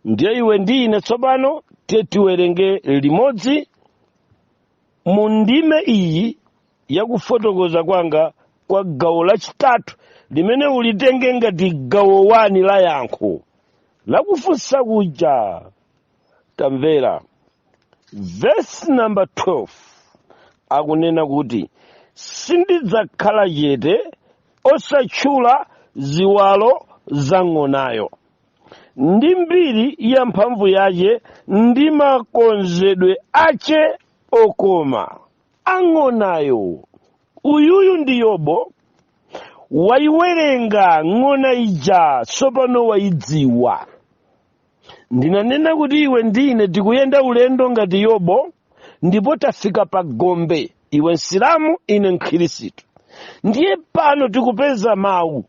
ndiye iwe ndi ine tsopano tiye tiwerenge limodzi mu ndime iyi yakufotokoza kwanga kwa gawo lachitatu limene ulitenge ngati gawo wani la yankho lakufunsa kuja tamvera vesi namba 12 akunena kuti sindidzakhala chete osatchula ziwalo za ng'onayo ndi mbiri ya mphamvu yace ndi makonzedwe ace okoma a ng'onayo uyuyu ndi yobo waiwerenga ng'ona ija tsopano waidziwa ndinanena kuti iwe ndi ine tikuyenda ulendo ngati yobo ndipo tafika pa gombe iwe msilamu ine mkhristu ndiye pano tikupeza mawu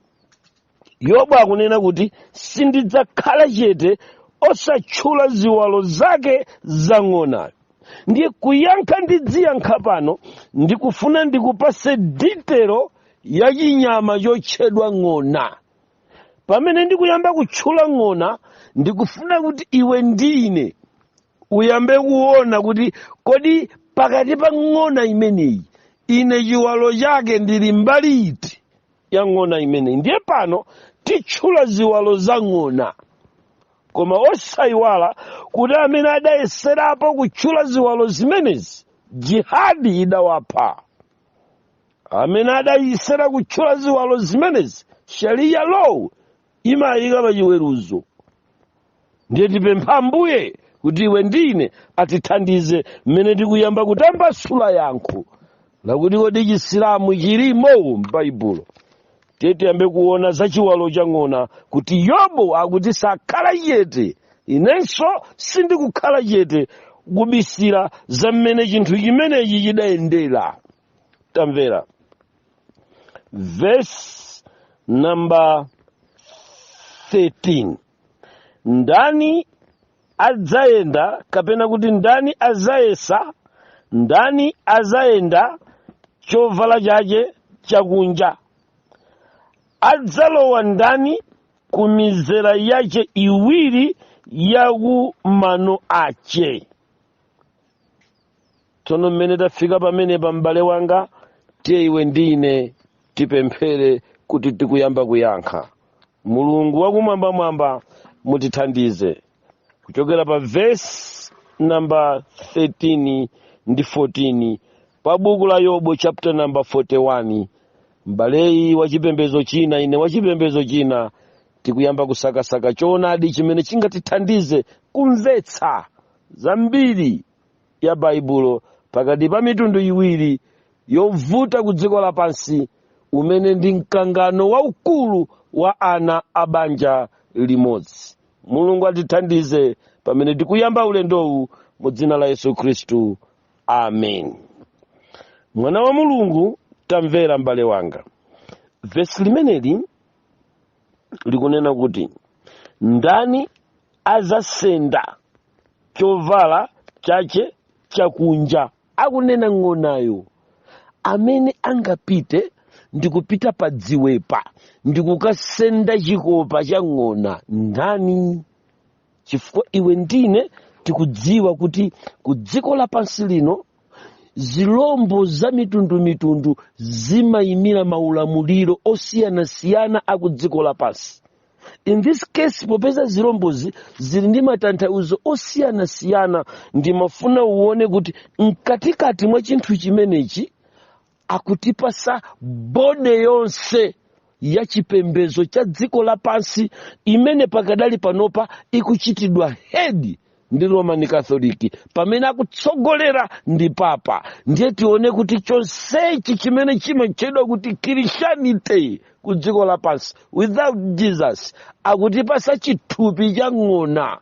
yobo akunena kuti sindidzakhala chete osatchula ziwalo zake za ng'onayo ndiye kuyankha ndidziyankha pano ndikufuna ndikupase ditelo ya chinyama chotchedwa ng'ona pamene ndikuyamba kutchula ng'ona ndikufuna kuti iwe ndi ine uyambe kuona kuti kodi pakati pa ng'ona imeneyi ine chiwalo chake ndili mbali iti ya ng'ona imeneyi ndiye pano titchula ziwalo za ng'ona koma osayiwala kuti amene adayeserapo kutchula ziwalo zimenezi jihadi idawapha amene adayesera kutchula ziwalo zimenezi shariya law imawayika pa chiweruzo ndiye tipempha ambuye kuti iwe ndi ine atithandize mmene tikuyamba kutambasula yankho lakuti kodi chisilamu chilimo m'baibulo tiye tiyambe kuona za chiwalo cha ng'ona kuti yobo akuti sakhala chete inenso sindikukhala chete kubisira za mmene chinthu chimenechi chidayendera tamvera verse number 13 ndani adzayenda kapena kuti ndani adzayesa ndani adzayenda chovala chache chakunja adzalowa ndani ku mizera yache iwiri ya ku mano ache tsono mmene tafika pamene pa m'bale wanga tiye iwe ndi ine tipemphere kuti tikuyamba kuyankha mulungu wakumwambamwamba mutithandize kuchokera pa vesi namba 13 ndi 14 pa buku la yobo chapter namba 41 m'baleyi wa chipembedzo china ine wa chipembedzo china tikuyamba kusakasaka choonadi chimene chingatithandize kumvetsa zambiri ya baibulo pakati pa mitundu iwiri yovuta ku dziko lapansi umene ndi mkangano waukulu wa ana a banja limodzi mulungu atithandize pamene tikuyamba ulendowu mu dzina la yesu khristu amen mwana wa mulungu tamvera m'bale wanga vesi limeneli likunena kuti ndani azasenda chovala chache chakunja akunena ng'onayo amene angapite ndikupita pa dziwepa ndikukasenda chikopa cha ng'ona ndani chifukwa iwe ndi ine tikudziwa kuti ku dziko lapansi lino zilombo za mitundumitundu zimayimira maulamuliro osiyanasiyana a ku dziko lapansi in this case popeza zilombozi zili ndi matanthauzo osiyanasiyana ndimafuna uone kuti mkatikati mwa chinthu chimenechi akutipasa body yonse ya chipembedzo cha dziko lapansi imene pakadali panopa ikuchitidwa head ndi roman catholic pamene akutsogolera ndi papa ndiye tione kuti chonsechi chimene chimatchedwa kuti christianity ku dziko lapansi without jesus akutipasa chithupi cha ng'ona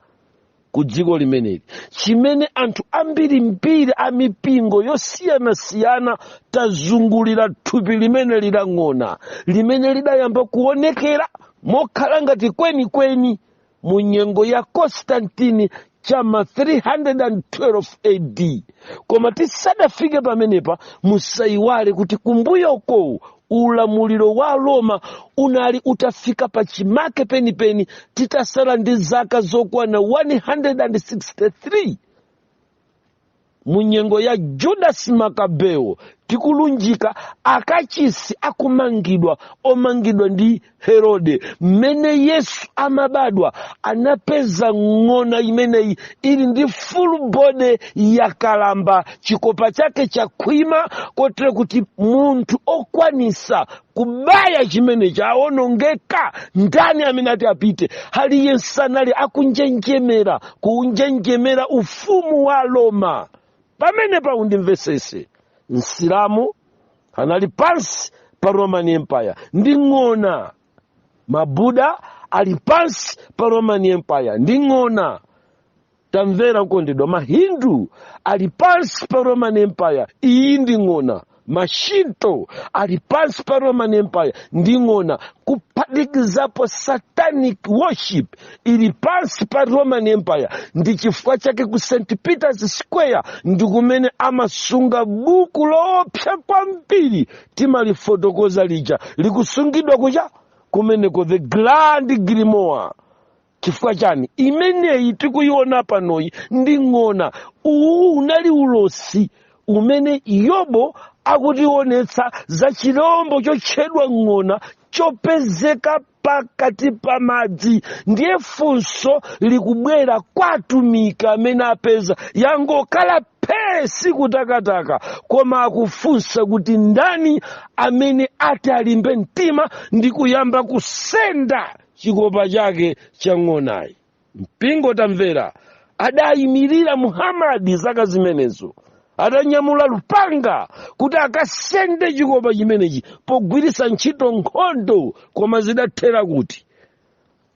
ku dziko limeneli chimene anthu ambirimbiri a mipingo yosiyanasiyana tazungulira thupi limene lili la ng'ona limene lidayamba kuonekera mokhala ngati kwenikweni mu nyengo ya konstantini cha ma 312 ad koma tisadafike pamenepa musayiwale kuti kumbuyo ukowu ulamuliro wa roma unali utafika pa chimake penipeni titasala ndi zaka zokwana 163 mu nyengo ya judasi makabeo tikulunjika kachisi akumangidwa omangidwa ndi herode mmene yesu amabadwa anapeza ng'ona imeneyi ili ndi full body yakalamba chikopa chake chakhwima kotere kuti munthu okwanisa kubaya chimene chaonongeka ndani amene ati apite aliyense anali akunjenjemera kuunjenjemera ufumu wa roma pamene paundimvesese msilamu anali pansi pa roman empire ndi ng'ona mabuda ali pansi pa roman empire ndi ng'ona tamvera okondedwa mahindu ali pansi pa roman empire iyi ndi ng'ona mashinto ali pansi pa roman empire ndi ng'ona kuphatikizapo satanic worship ili pansi pa roman empire ndi chifukwa chake ku st peters square ndi kumene amasunga buku loopsa kwambiri timalifotokoza lija likusungidwa kuja kumeneko the grand grimoire chifukwa chani imeneyi tikuyiona panoyi ndi ng'ona uwu unali ulosi umene yobo akutionetsa za chilombo chotchedwa ng'ona chopezeka pakati pa madzi ndiye funso likubwera kwa atumiki amene apeza yangokhala phee sikutakataka koma akufunsa kuti ndani amene ati alimbe mtima ndi kuyamba kusenda chikopa chake cha ng'onayi mpingo tamvera adayimirira muhamadi zaka zimenezo adanyamula lupanga kuti akasende chikopa chimenechi pogwiritsa ntchito nkhondo koma zidathera kuti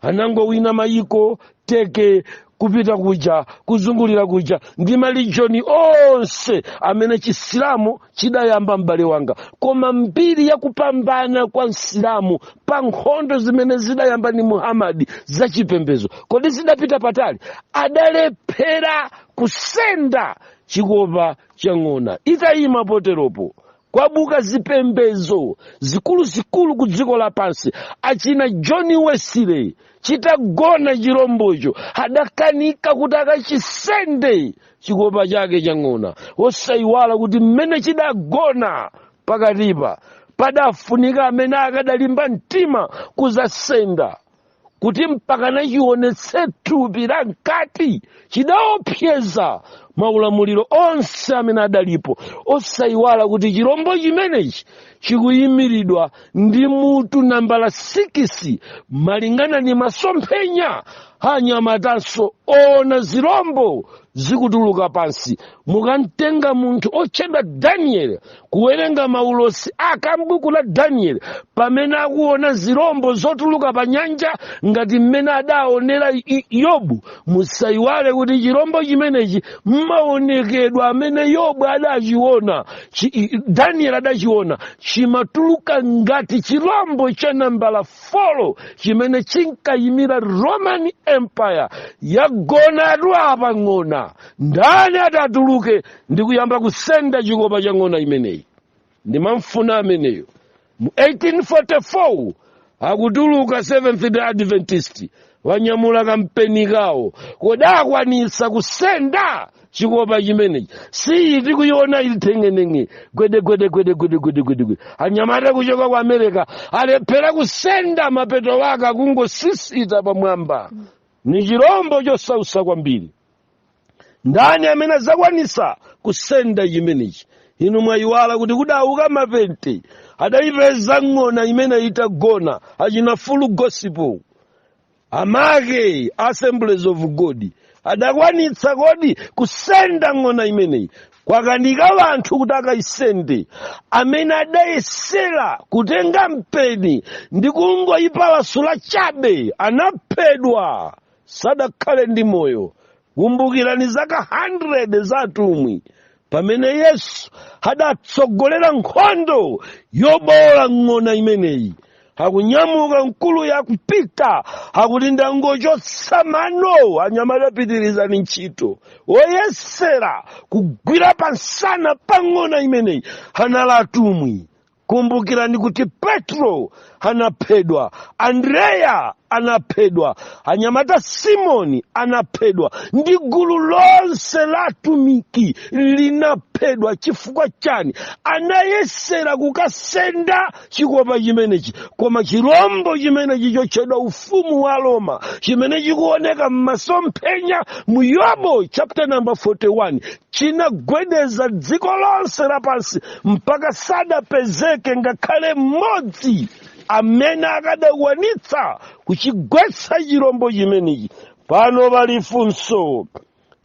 anangowina mayiko teke kupita kuja kuzungulira kuja ndi malijoni onse amene chisilamu chidayamba m'bale wanga koma mbiri ya kupambana kwa msilamu pa nkhondo zimene zidayamba ndi muhamadi za chipembedzo kodi zidapita patali adalephera kusenda chikopa cha ng'ona itayima poteropo kwadzuka zipembedzo zikuluzikulu ku dziko lapansi achina john wesley chitagona chirombocho adakanika kuti akachisende chikopa chake cha ng'ona osayiwala kuti mmene chidagona pakatipa padafunika amene akadalimba mtima kuzasenda kuti mpaka nachionetse thupi la mkati chidaopseza maulamuliro onse amene adalipo osayiwala kuti chilombo chimenechi chikuyimiridwa ndi mutu nambala sikisi malingana ndi masomphenya anyamatanso oona zirombo zikutuluka pansi mukamtenga munthu otchedwa danieli kuwerenga maulosi a m'buku la danieli pamene akuona zirombo zotuluka pa nyanja ngati mmene adaonera I- yobu musayiwale kuti chirombo chimenechi mmaonekedwe amene yobu adachiona chi- i- danieli adachiona chimatuluka ngati chirombo cha nambala folo chimene chinkayimira roman empire yagona apa ng'ona ndani atatuluke ndi kuyamba kusenda chikopa cha ng'ona imeneyi ndikumfuna ameneyo mu 1844 akutuluka seventh day adventist wanyamula kampeni kawo kodi akwanisa kusenda chikopa chimenechi si iyi tikuyiona ili thengenenge gwedegwedegwedegwedegwedegwede anyamata kuchoka ku america alephera kusenda mapeto wake akungosisita pamwamba ni chirombo chosausa kwambiri ndani amene adzakwanisa kusenda chimenechi inu mwayiwala kuti kudauka mapente adayipeza ng'ona imeneyi itagona achina full gospel amake assemblies of god adakwanitsa kodi kusenda ng'ona imeneyi kwakanika wanthu kuti akayisende amene adayesera kutenga mpeni ndi kungoyipalasula chabe anaphedwa sadakhale ndi moyo kumbukirani zaka 100 za atumwi pamene yesu adatsogolera nkhondo yobowola ng'ona imeneyi akunyamuka mkuluyo akupita akuti ndangochotsa mano anyamata apitirizani ntchito woyesera kugwira pansana pa ng'ona imeneyi anali atumwi kumbukirani kuti petro anaphedwa andreya anaphedwa anyamata simoni anaphedwa ndi gulu lonse la atumiki linaphedwa chifukwa chani anayesera kukasenda chikopa chimenechi koma chirombo chimenechi chotchedwa ufumu wa roma chimene chikuoneka m'masomphenya mu yobu chapter number 41 chinagwedeza dziko lonse lapansi mpaka sadapezeke ngakhale mmodzi amene akadakwanitsa kuchigwetsa chirombo chimenechi pano pali funso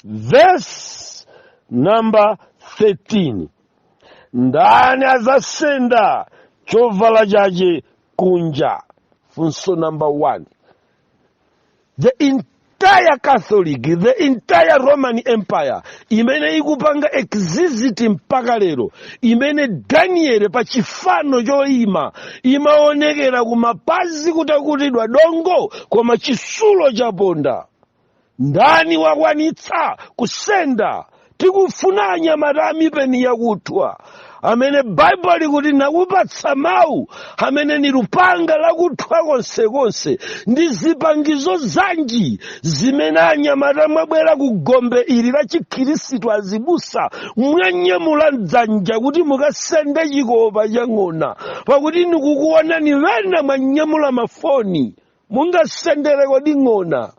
vesi namba 13 ndani azasenda chovala chache kunja funso namba 1 the entire catholic the entire roman empire imene ikupanga exist mpaka lero imene danieli pa chifano choima imaonekera kumapazi kutakutidwa dongo koma chitsulo chaponda ndani wakwanitsa kusenda tikufuna anyamata amipeni yakuthwa amene baibulo likuti nakupatsa mawu amene ni lupanga lakuthwa konsekonse ndi zipangizo zanji zimene anyamata mwabwera ku gombe ili la chikhristu azibusa mwanyamula mdzanja kuti mukasende chikopa cha ng'ona pakuti nikukuonani ŵena mwanyamula mafoni mungasendere kodi ng'ona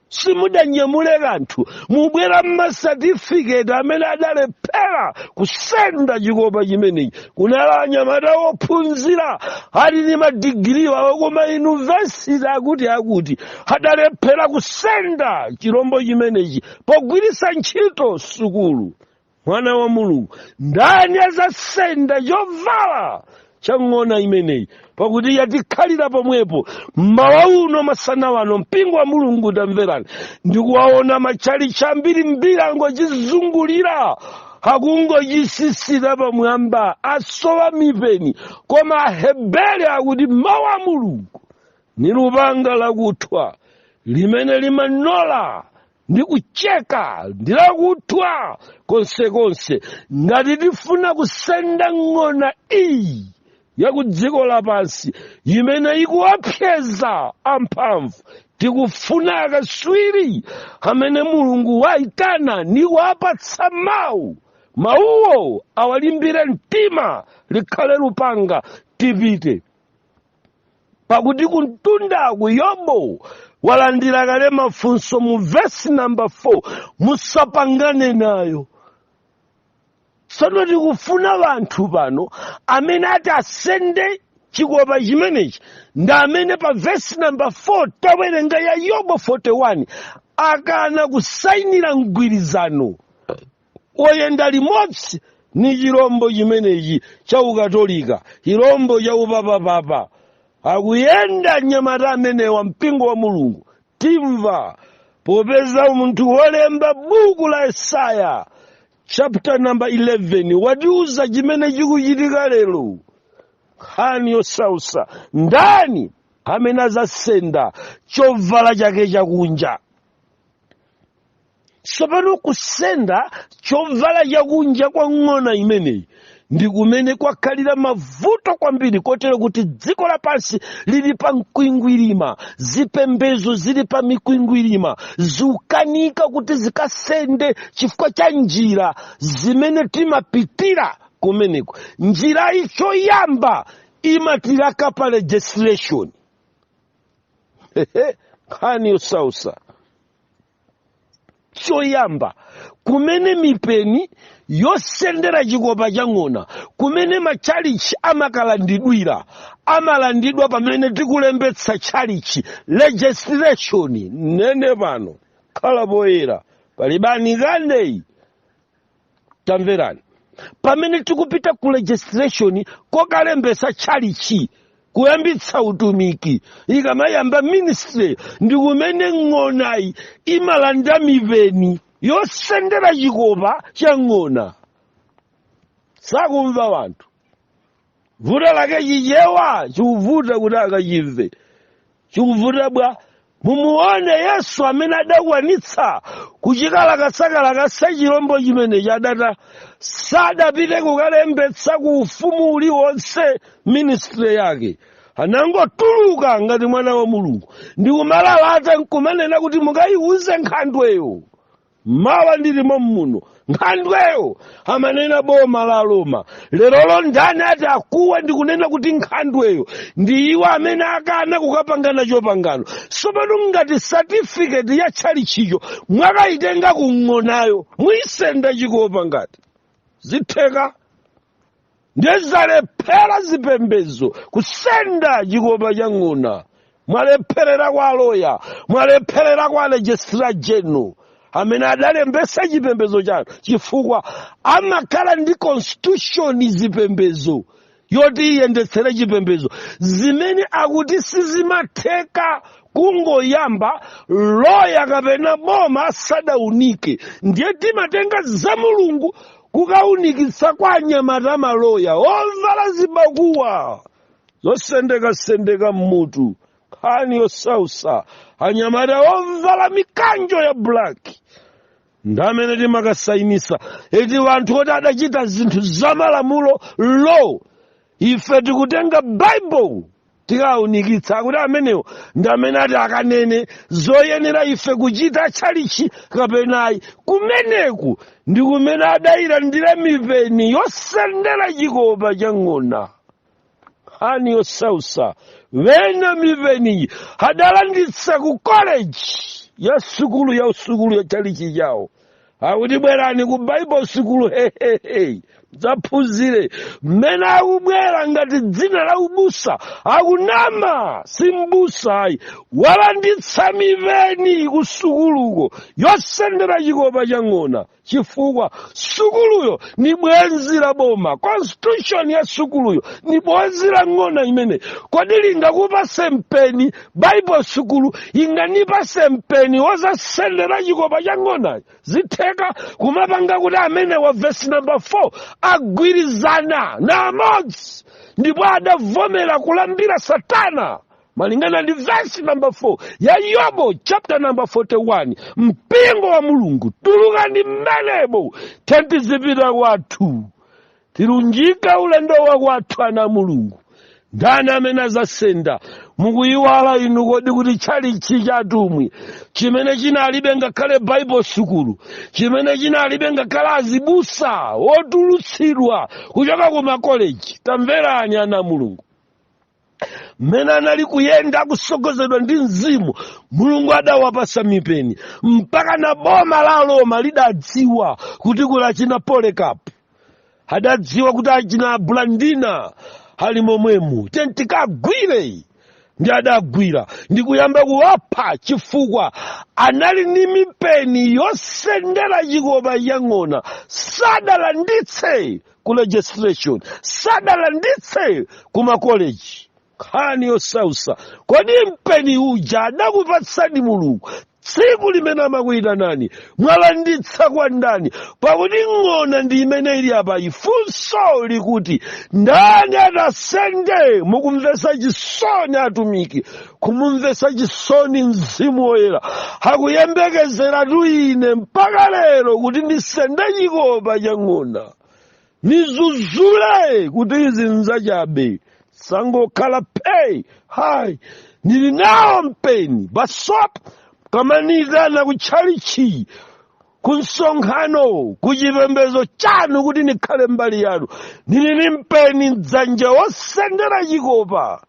simudanyamule kanthu mubwera mmasatifiketi amene adalephera kusenda chikopa chimenechi kunali anyamata wophunzira ali ndi madigiri wawo ku mayunivesiti akutiakuti adalephera kusenda chirombo chimenechi pogwiritsa ntchito sukulu mwana wa mulungu ndani azasenda chovala cha ng'ona imeneyi pakuti yatikhalira pomwepo mmawa uno masana wano mpingo wa mulungu tamverani ndikuwaona matchalitchi ambirimbiri angochizungulira akungochisisita pamwamba asowa mipeni koma aheberi akuti mawu a mulungu ni lupanga lakuthwa limene limanola ndi kucheka ndi lakuthwa konsekonse ngati tifuna kusenda ng'ona iyi ya ku dziko lapansi imene ikuwopseza amphamvu tikufuna akaswiri amene mulungu waitana ndi kuwapatsa mawu mawuwo awalimbire mtima likhale lupanga tipite pakuti kumtundaku yobo walandira kale mafunso mu vesi namba 4 musapangane nayo tsono tikufuna ŵanthu pano amene ati asende chikopa chimenechi ndi amene pa vesi namba 4 tawerenga ya yobo 41 akana kusainira mgwirizano oyenda limodzi ni chilombo chimenechi cha ukatolika chilombo cha upapapapa akuyenda anyamata amenewa mpingo wa mulungu timva popeza munthu wolemba buku la yesaya chapter number 11 watiuza chimene chikuchitika lero nkhani yosausa ndani amene azasenda chovala chake chakunja tsopano kusenda chovala chakunja kwa ng'ona imeneyi ndi kumene kwakhalira mavuto kwambiri kotero kuti dziko lapansi lili pa mkwingwirima zipembedzo zili pa mikwingwirima zikukanika kuti zikasende chifukwa cha njira zimene timapitira kumeneko njirayi choyamba imatilaka pa registration nkhani yosausa choyamba kumene mipeni yosendera chikopa cha ng'ona kumene matchalitchi amakalandidwira amalandidwa pamene tikulembetsa tchalitchi registration nene pano khala poyera pali bani kandeyi tamverani pamene tikupita ku registration kokalembetsa tchalitchi kuyambitsa utumiki ikamayamba ministry ndi kumene ng'onayi imalanda mipeni yosendera chikopa cha ng'ona sakumva wanthu vuto lake chichewa chikuvuta kuti akachimve chikuvuta bwa mumuone yesu amene adakwanitsa kuchikalakasakalakasa chilombo chimenechi adata sadapite kukalembetsa ku ufumu uliwonse ministry yake anangotuluka ngati mwana wa mulungu ndikumalalata nkumanena kuti mukayiwuze nkhandweyo mawa ndilimo muno nkhandweyo amanena boma la aroma lerolo ndani ati akuwa ndikunena kuti nkhandweyo ndi iwo amene akana kukapanga nacho pangano tsopano ngati satifiketi ya tchalitchicho mwakayitenga ku ng'onayo muyisenda chikopa ngati zitheka ndiye zalephera zipembedzo kusenda chikopa cha ng'ona mwalepherera kwa loya mwalepherera kwa registrar general amene adalembetsa chipembedzo chanu chifukwa amakhala ndi constitution zipembedzo yoti iyendetsere chipembedzo zimene akuti sizimatheka kungoyamba loya kapena boma asadaunike ndiye timatenga za mulungu kukaunikitsa kwa anyamata amaloya ovala zibakuwa zosendekasendeka mmutu nkhani yosausa anyamata ovala mikanjo ya bulaki ndi amene timakasayinitsa eti wanthu oti adachita zinthu zamalamulo law ife tikutenga baibulo tikaunikitsa kuti amenewo ndi amene ati akanene zoyenera ife kuchita tchalichi kapenayi kumeneku ndi kumene adayilandira mipeni yosendera chikopa cha ng'ona nkhani yosausa ena mipeniyi adalanditsa ku koleji ya sukulu ya usukulu ya tchalichi chawo akuti bwerani ku baibo sukulu hehehe dzaphunzire mmene akubwera ngati dzina la ubusa akunama si mbusa ayi walanditsa mipeni ku sukuluko yosendera chikopa cha ng'ona chifukwa sukuluyo ni bwenzi la boma constitution ya sukuluyo ni bwenzi la ng'ona imene kodi lingakupase mpeni baibo sukulu inganipase mpeni wozasendera chikopa cha ng'ona zitheka kumapanga kuti amene wa vesi namba 4 agwirizana na amodzi ndipo adavomera kulambira satana malingana ndi vesi namba 4 ya yobo chapter namba 41 mpingo wa mulungu tulukani mmenemo tenti zipita kwathu tilunjika ulendo wa kwathu ana a mulungu ndani amene azasenda mukuyiwala inu kodi kuti tchalichi cha atumwi chimene chinalibe ngakhale baibo sukulu chimene chinalibe ngakhale azibusa otulutsidwa kuchoka ku makoleji tamverani ana a mulungu mmene anali kuyenda kusogozedwa ndi mzimu mulungu adawapasa mipeni mpaka na boma la roma lidadziwa kuti kuli achina polekapu adadziwa kuti achina blandina ali momwemu tentikagwire ndi adagwira ndi kuyamba kuwapha chifukwa anali ni mipeni yosendera chikopa cha ng'ona sadalanditse ku registration sadalanditse ku makoleji nkhani yosausa kodi mpeni uja adakupatsani mulungu tsiku limene amakuyitanani mwalanditsa kwa ndani pakuti ng'ona ndi imene ili apa funso likuti ndani atasende mukumvesa chisoni atumiki kumumvetsa chisoni mzimu woyera akuyembekezeratu ine mpaka lero kuti ndisende chikopa cha ng'ona nizuzule kuti izi nzachabe sangokhala phee ayi ndili nawo mpeni basopo kumaniyitana ku tchalichi ku msonkhano ku chipembedzo chanu kuti ndikhale mbali yanu ndili ni mpeni mdzanja wosendera chikopa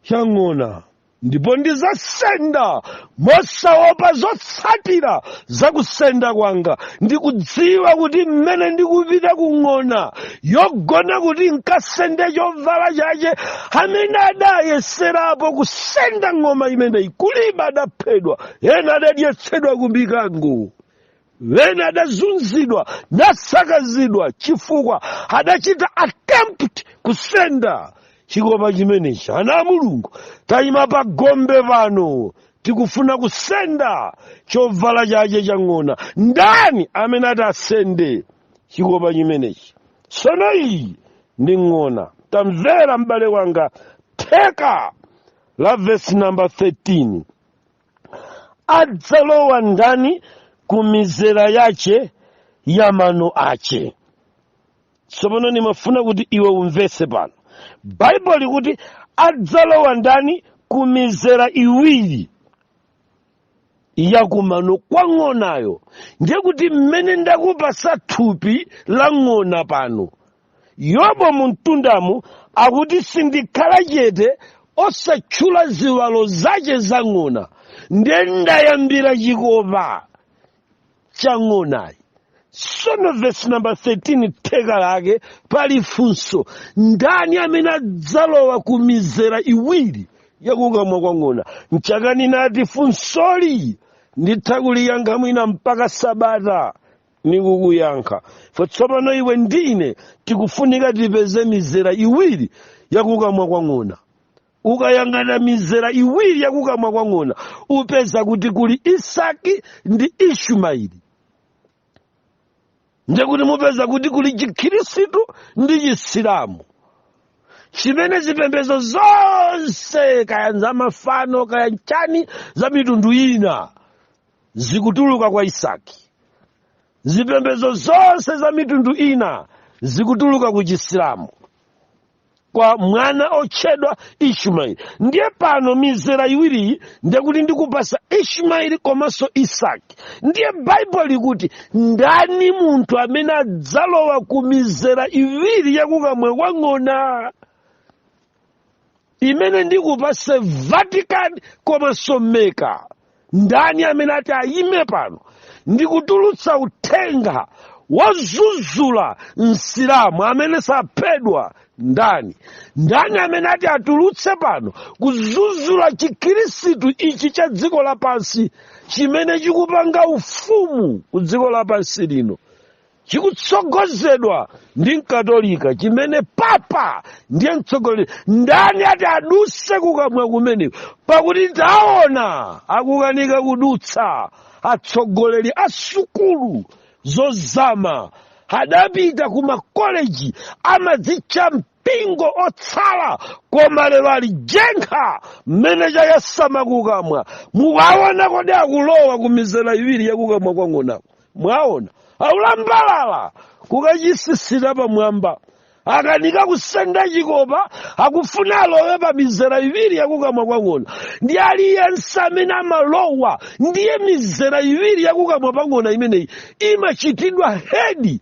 cha ng'ona ndipo ndizasenda mosaopa zotsatira za kusenda kwanga ndikudziwa kuti mmene ndikupita ku ng'ona yogona kuti nkasende chovala chache amene adayeserapo kusenda ng'oma imeneyi kulibe adaphedwa ena adadyetsedwa ku mikango ena adazunzidwa nasakazidwa chifukwa adachita attempt kusenda chikopa chimenechi ana a mulungu tayima pa gombe pano tikufuna kusenda chovala chache cha ng'ona ndani amene ati asende chikopa chimenechi sono iyi ndi ng'ona tamvera m'bale wanga theka la vesi namba 13 adzalowa ndani ku mizera yace ya mano ace tsopano nimafuna kuti iwe umvetse pano baibulo likuti adzalowa ndani ku mizera iwiri yakumano kwa ng'onayo ndiye kuti mmene ndakupasa thupi la ng'ona pano yobo mu mtundamu akuti sindikhala chete osatchula ziwalo zace za ng'ona nde ndayambira chikopa cha ng'onayi sono vesi namba 13 theka lake pali funso ndani amene adzalowa ku mizera iwiri yakukamwa kwa ng'ona mchaka ninati funsoli nditha kuliyankha mwina mpaka sabata nikukuyankha fwe tsopano iwe ndi ine tikufunika tipeze mizera iwiri yakukamwa kwa ng'ona ukayang'ana mizera iwiri yakukamwa kwa ng'ona upeza kuti kuli isaki ndi ishimaeli ndekuti mupeza kuti kuli chikhirisitu ndi chisilamu chimene zipembedzo zonse kaya zamafano kaya nchani za mitundu ina zikutuluka kwa isaki zipembedzo zonse za mitundu ina zikutuluka ku chisilamu kwa mwana otchedwa ishimaeli ndiye pano mizera iwiriyi ndekuti ndikupasa ishimaeli komanso isaki ndiye baibulo likuti ndani munthu amene adzalowa ku mizera iwiri yakukamwa kwa ng'ona imene ndikupase vatican komanso meka ndani amene ati ayime pano ndikutulutsa uthenga wozuzula msilamu amene saphedwa ndani ndani amene ati atulutse pano kuzuzula chikhirisitu ichi cha dziko lapansi chimene chikupanga ufumu ku dziko lapansi lino chikutsogozedwa ndi mkatolika chimene papa ndiye mtsogoleri ndani ati aduse kukamwa kumene pakuti taona akukanika kudutsa atsogoleri a sukulu zozama adapita ku makoleji amadzitcha mpingo otsala koma lero ali jenkha mmene chayasama kukamwa mukaona kodi akulowa ku mizera iwiri yakukamwa kwa ng'onako mwaona aulambalala kukachisisita pamwamba akanika kusenda chikopa akufuna alowe pa mizera iwiri yakukamwa kwa ng'ona ndi aliyense amene amalowa ndiye mizera iwiri yakukamwa pa ng'ona imeneyi imachitidwa hedi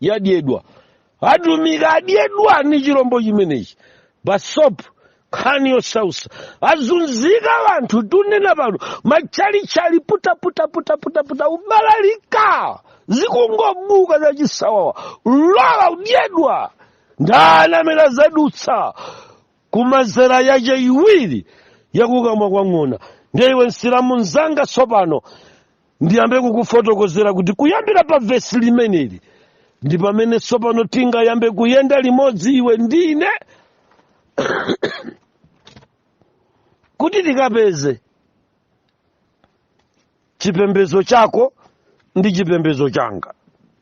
yadyedwa atumiki adyedwa ni chilombo chimenechi basop nkhani yosausa azunzika wanthu tunena pano matchalitchi ali putaputaputaputaputa ubalalika zikungobuka za chisawawa lowa udyedwa ndani amene azadutsa ku mizera yace iwiri yakukamwa kwa ng'ona ndiye iwe msilamu mzanga tsopano ndiyambe kukufotokozera kuti kuyambira pa vesi limeneli ndi pamene tsopano tingayambe kuyenda limodzi iwe ndi ine kuti tikapeze chipembedzo chako ndi chipembedzo changa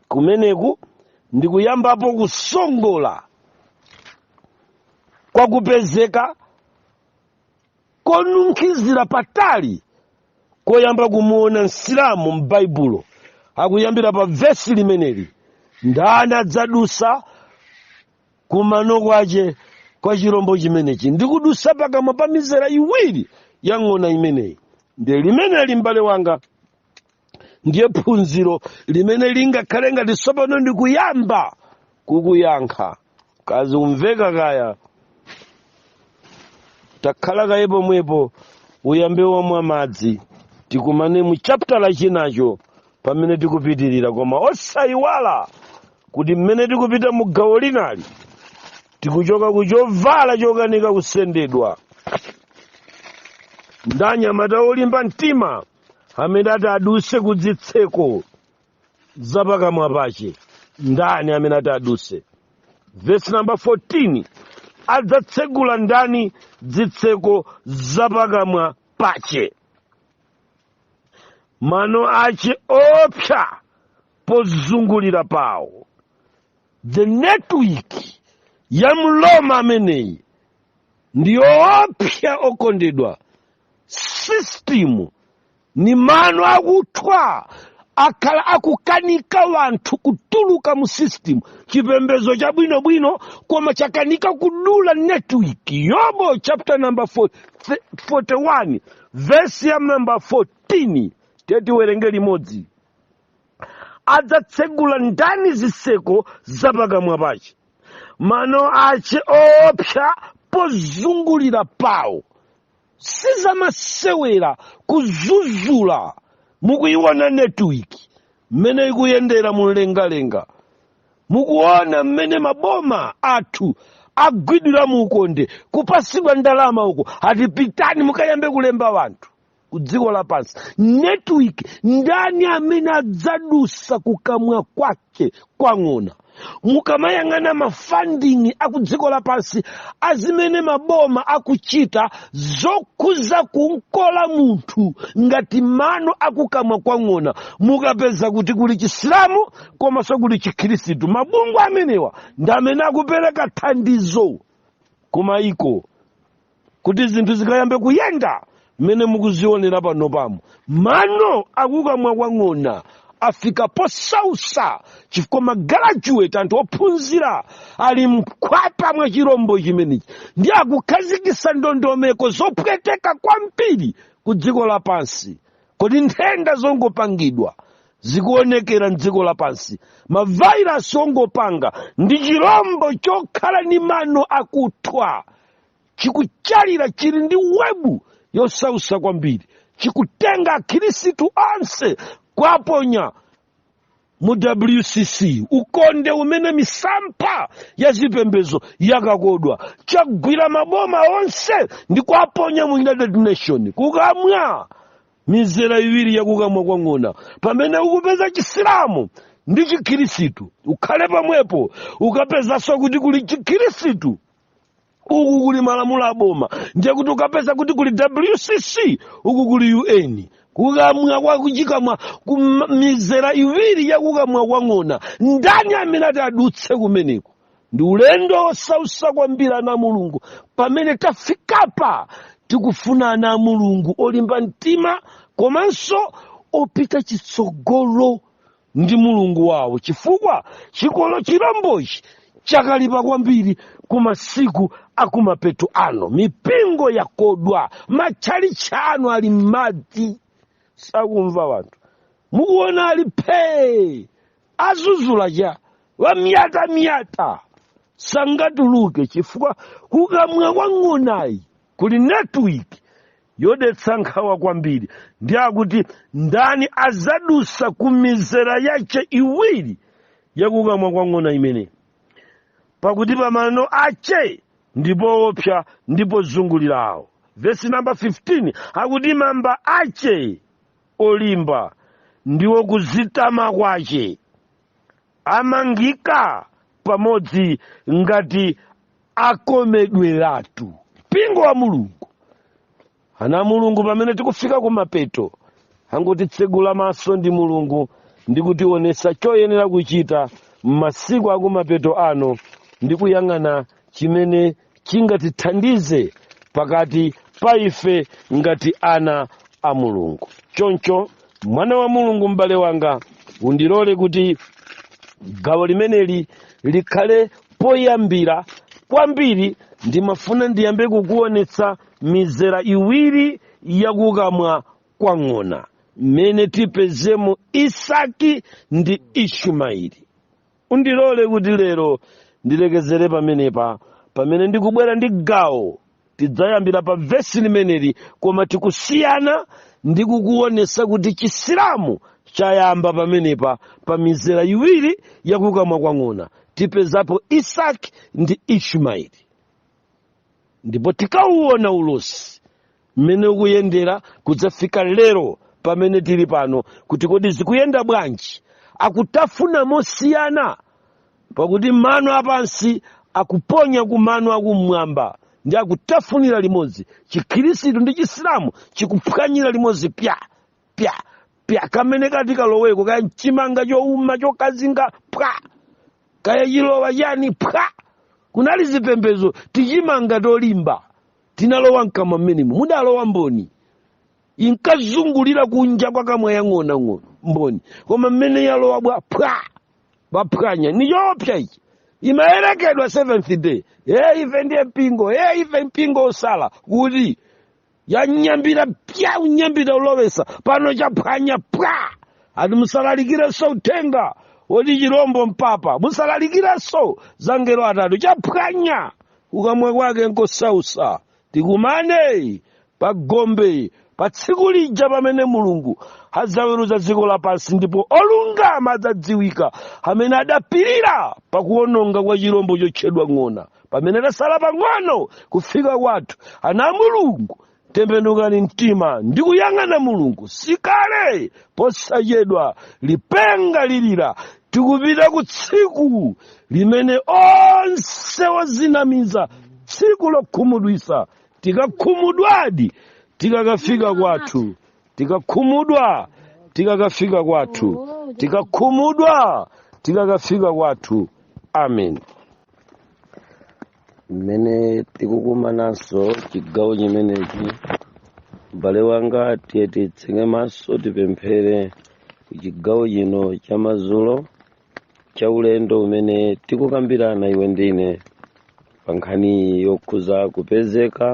kumeneku ndi kuyambapo kusongola kwa kupezeka konunkhizira patali koyamba kumuona msilamu m'baibulo akuyambira pa vesi limeneli ndani adzadusa kumano kwace kwa chirombo chimenechi ndi kudusa pakamwa pa mizera iwiri ya ng'ona imeneyi ndiye limeneli m'bale wanga ndiye phunziro limene lingakhale ngati tsopano ndikuyamba kukuyankha kazi kumveka kaya takhala kaye pomwepo uyambe wamwa madzi tikumane mu chaputala chinacho pamene tikupitirira koma osayiwala kuti mmene tikupita mu gawo linali tikuchoka ku chovala chokanika kusendedwa ndi anyamata olimba mtima amene ati aduse kudzitseko zapakamwa pace ndani amene ati aduse vesi namba 14 adzatsegula ndani dzitseko zapakamwa pace mano ace oopsa pozungulira pawo the network ya mroma ameneyi ndi yoopsa okondedwa sisitimu ni mano akuthwa akhala akukanika wanthu kutuluka mu system chipembedzo chabwinobwino koma chakanika kudula network yobo chapter number 41 verse ya number 14 teti tiwerenge limodzi adzatsegula ndani zitseko za pakamwa pache mano ache oopsa pozungulira pawo sizamasewera kuzuzula mukuiona network mmene ikuyendera mumlengalenga mukuona mmene maboma athu agwidwira mu ukonde kupasidwa ndalama uko ati pitani mukayambe kulemba wanthu ku dziko lapansi network ndani amene adzadusa kukamwa kwake kwake kwa ng'ona mukamayang'ana mafandingi akudziko lapansi azimene maboma akuchita zokhuza kunkola munthu ngati mano akukamwa kwang'ona mukapeza kuti kuli chisilamu komanso kuli chikhristu mabungwe amenewa ndi amene akupereka thandizo kumayiko kuti zinthu zikayambe kuyenda mmene mukuzionera pano pamo mano akukamwa kwa ng'ona afika posausa chifukwa magalajuweti anthu ophunzira ali mkhwapa mwa chirombo chimenechi ndi akukhazikisa ndondomeko zopweteka kwambiri ku dziko lapansi kodi nthenda zongopangidwa zikuonekera mdziko lapansi mavairasi ongopanga ndi chirombo chokhala ndi mano akuthwa chikuchalira chili ndi webu yosausa kwambiri chikutenga akhirisitu onse kuwaponya mu wcc ukonde umene misampha ya zipembezo yakakodwa chagwira maboma onse ndi kuwaponya mu united nation kukamwa mizera iwiri yakukamwa kwa ng'ona pamene ukupeza chisilamu ndi chikhirisitu ukhale pamwepo ukapezanso kuti kuli chikhirisitu uku kuli malamulo aboma ndiye kuti ukapeza kuti kuli wcc uku kuli un kukamwa kwa kuchikamwa ku mizera iwiri ya kukamwa kwa ng'ona ndani amene ati adutse kumeneko ndi ulendo wosausa kwambiri ana a mulungu pamene tafikapa tikufuna ana a mulungu olimba mtima komanso opita chitsogolo ndi mulungu wawo chifukwa chikolo chilombochi chakalipa kwambiri ku masiku akumapeto ano mipingo yakodwa matchalitchi anu ali m'madzi sakumva wanthu mukuona ali phee azuzula cha wamyatamyata sangatuluke chifukwa kukamwa kwa ng'onayi kuli network yodetsa nkhawa kwambiri ndi akuti ndani azadusa ku mizera yache iwiri yakukamwa kwa ng'ona imene pakuti pamano ache ndipo oopsa ndipo zungulirawo vesi namba 15 akuti mamba ache olimba ndiwo kuzitama kwache amangika pamodzi ngati akomedweratu mpingo wa mulungu ana a mulungu pamene tikufika kumapeto angotitsegula maso ndi mulungu ndi kutiwonesa choyenera kuchita m'masiku akumapeto ano ndi kuyang'ana chimene chingatithandize pakati pa ife ngati ana a mulungu choncho mwana wa mulungu m'bale wanga undilole kuti gawo limeneli likhale poyambira kwambiri ndimafuna ndiyambe kukuonetsa mizera iwiri yakukamwa kwa ng'ona mmene tipezemo isaki ndi ishumaeli Undilole kuti lero ndilekezere pamenepa pamene ndikubwera ndi gawo tidzayambira pa vesi limeneli koma tikusiyana ndi kukuonesa kuti chisilamu chayamba pamenepa pa mizera iwiri yakukamwa kwa ng'ona tipezapo isaki ndi ishmaeli ndipo tikauona ulosi mmene ukuyendera kudzafika lero pamene tili pano kuti kodi zikuyenda bwanji akutafuna mosiyana pakuti mano apansi akuponya ku mano akumwamba ndi akutafunira limodzi chikhirisitu ndi chisilamu chikuphwanyira limodzi pya pya pya kamene kati kaloweko kaya mchimanga chouma chokazinga pwa kaya chilowa chani pwa kunali zipembezo tichimanga tolimba tinalowa mkamwa mmenemo mudalowa mboni inkazungulira kunja kwa kamwa yang'onang'ono mboni koma mmene yalowa bwa pwa baphwanya ni choopsa ichi imayerekedwa seventh day e ife ndiye mpingo e ife mpingo osala kuti yanyambira pya unyambira ulowesa pano chaphwanya pwa ati musalalikireso uthenga woti chirombo mpapa musalalikireso zangelo atatu chaphwanya kukamwa kwake nkosausa tikumane pa gombe pa tsiku lija pamene mulungu adzaweruza dziko lapansi ndipo olungama adzadziwika amene adapirira pakuononga kwa chirombo chotchedwa ng'ona pamene tasala pang'ono kufika kwathu ana a mulungu tembenukani mtima ndi kuyang'ana mulungu sikale posachedwa lipenga lilira tikupita ku tsiku limene onse ozinamiza tsiku lokhumudwisa tikakhumudwadi tikakafika kwathu tikakhumudwa tikakafika kwathu tikakhumudwa tikakafika kwathu amen mmene tikukumananso chigawo chimenechi m'bale wanga tiye titseke maso tipemphere chigawo chino cha madzulo cha ulendo umene tikukambirana iwe ndi ine pa nkhani yokhuza kupezeka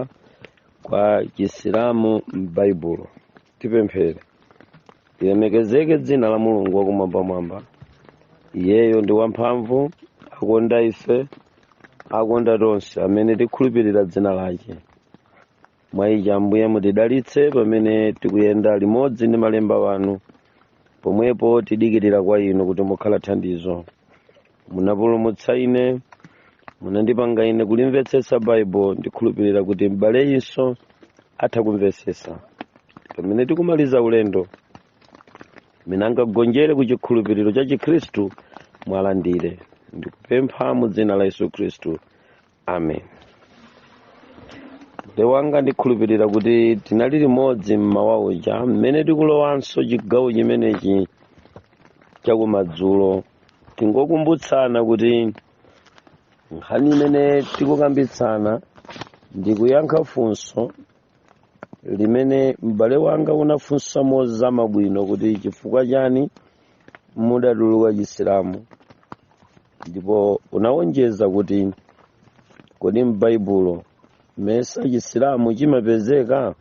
kwa chisilamu m'baibulo tipemphere lilemekezeke dzina la mulungu wakumwambamwamba iyeyo ndi wamphamvu akonda ife akonda tonse amene tikhulupirira dzina lake mwa ichi ambuye mutidalitse pamene tikuyenda limodzi ndi malemba wanu pomwepo tidikirira kwa inu kuti mukhala thandizo munapulumutsa ine munandipanga ine kulimvetsetsa baibulo ndikhulupirira kuti m'baleyinso atha kumvetsetsa pamene tikumaliza ulendo mmene angagonjere ku chikhulupiriro cha chikhristu mwalandire ndikupempha mu dzina la yesu khristu amen m'bale wanga ndikhulupirira kuti tinali limodzi mmawa uja mmene tikulowanso chigawo chimenechi chakumadzulo tingokumbutsana kuti nkhani imene tikukambitsana ndi kuyankha funso limene m'bale wanga unafunsa mozama bwino kuti chifukwa chani mudatuluka chisilamu ndipo unawonjeza kuti kodi m'baibulo mesa chisilamu chimapezeka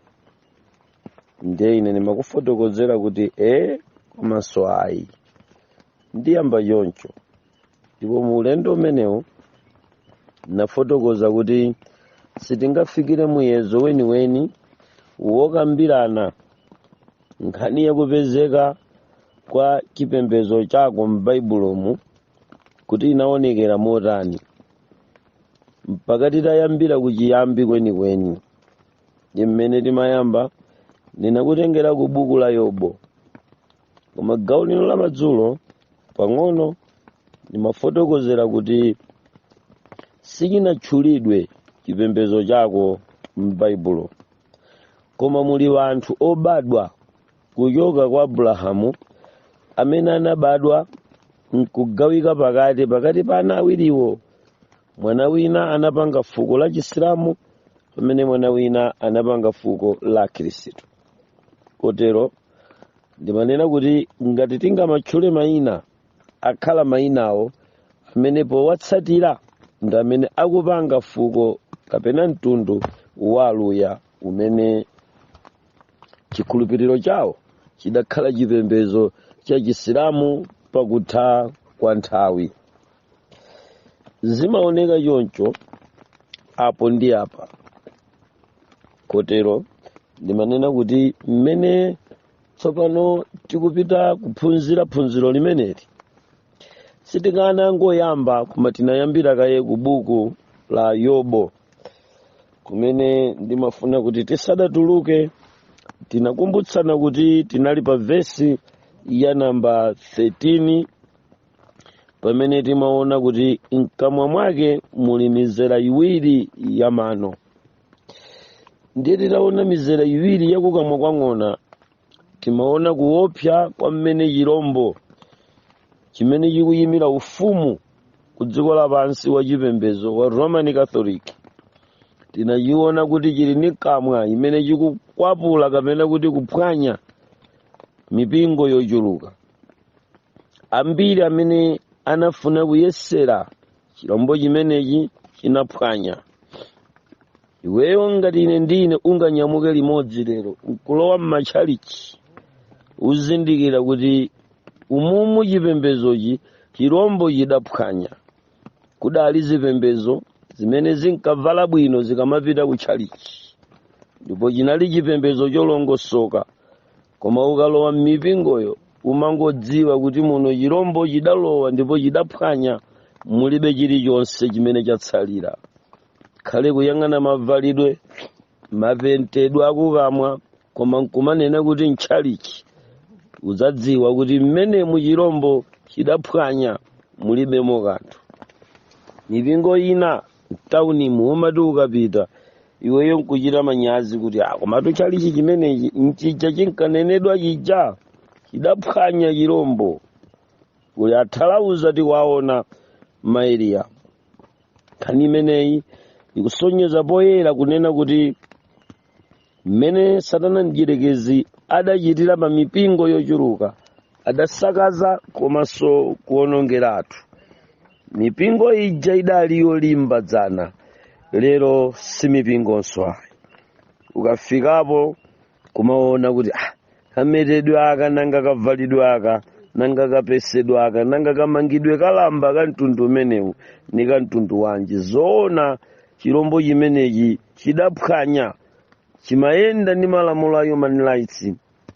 ndiye ine ndimakufotokozera kuti e komanso ayi ndiyamba choncho ndipo mu ulendo umenewu nafotokoza kuti sitingafikire muyezo weniweni wokambirana nkhani yakupezeka kwa chipembedzo chako m'baibulomu kuti inaonekera motani mpaka titayambira kuchiyambi kwenikweni ndi mmene timayamba ndinakutengera ku buku la yobo koma gawo lino la madzulo pang'ono ndimafotokozera kuti sichinatchulidwe chipembedzo chako m'baibulo koma muli wanthu obadwa kuchoka kwa abulahamu amene anabadwa nkugawika pakati pa ana awiriwo mwana wina anapanga fuko la chisilamu pamene mwana wina anapanga fuko la khristu kotero ndimanena kuti ngati tingamatchule mayina akhala mayinawo amene powatsatira ndi amene akupanga fuko kapena mtundu wa aluya umene chikhulupiriro chawo chidakhala chipembedzo cha chisilamu pakutha kwa nthawi zimaoneka choncho apo ndi apa kotero ndimanena kuti mmene tsopano tikupita kuphunzira phunziro limeneli sitikanangoyamba koma tinayambira kaye ku buku la yobo kumene ndimafuna kuti tisadatuluke tinakumbutsana kuti tinali pa vesi ya namba 13 pamene timaona kuti mkamwa mwake muli mizera iwiri ya mano ndiye titaona mizera iwiri yakukamwa kwa ng'ona timaona kuopsa kwa mmene chirombo chimene chikuyimira ufumu ku dziko lapansi wa chipembedzo wa roman catholic tinachiona kuti chili ni kamwa imene chikukwapula kapena kuti kuphwanya mipingo yochuluka ambiri amene anafuna kuyesera chilombo chimenechi chinaphwanya iweyo ngati ine ndi iwe tinganyamuke limodzi lero nkulowa m'matchalichi uzindikira kuti umumu chipembezochi chilombo chidaphwanya kudali zipembezo zimene zinkavala bwino zikamapita ku tchalichi ndipo chinali chipembezo cholongosoka koma ukalowa m'mipingoyo umangodziwa kuti muno chirombo chidalowa ndipo chidaphwanya mulibe chilichonse chimene chatsalira khale kuyang'ana mavalidwe mapentedwe akukamwa koma nkumanena kuti ntchalichi udzadziwa kuti mmenemu chirombo chidaphwanya mulibemo kanthu mipingo ina mtaunimu umati ukapita iweyo nkuchita manyazi kuti "Ah, komatu chalichi chimenechi nchija chinkanenedwa chija chidaphwanya chirombo kuli athalauza tikuwaona maeriya nkhani imeneyi ikusonyeza poyera kunena kuti mmene satana mdyerekezi adachitira pa mipingo yochuluka adasakaza komanso kuonongeratu mipingo ija idali yolimba dzana lero si mipingonso ayi ukafikapo kumaona kuti ah, kametedwe aka nanga kavalidwe aka nanga kapesedwe aka nanga kamangidwe ka lamba ka mtundu umenewu ni ka mtundu wanji zoona chilombo chimenechi chidaphwanya chimayenda ndi malamulo a human rights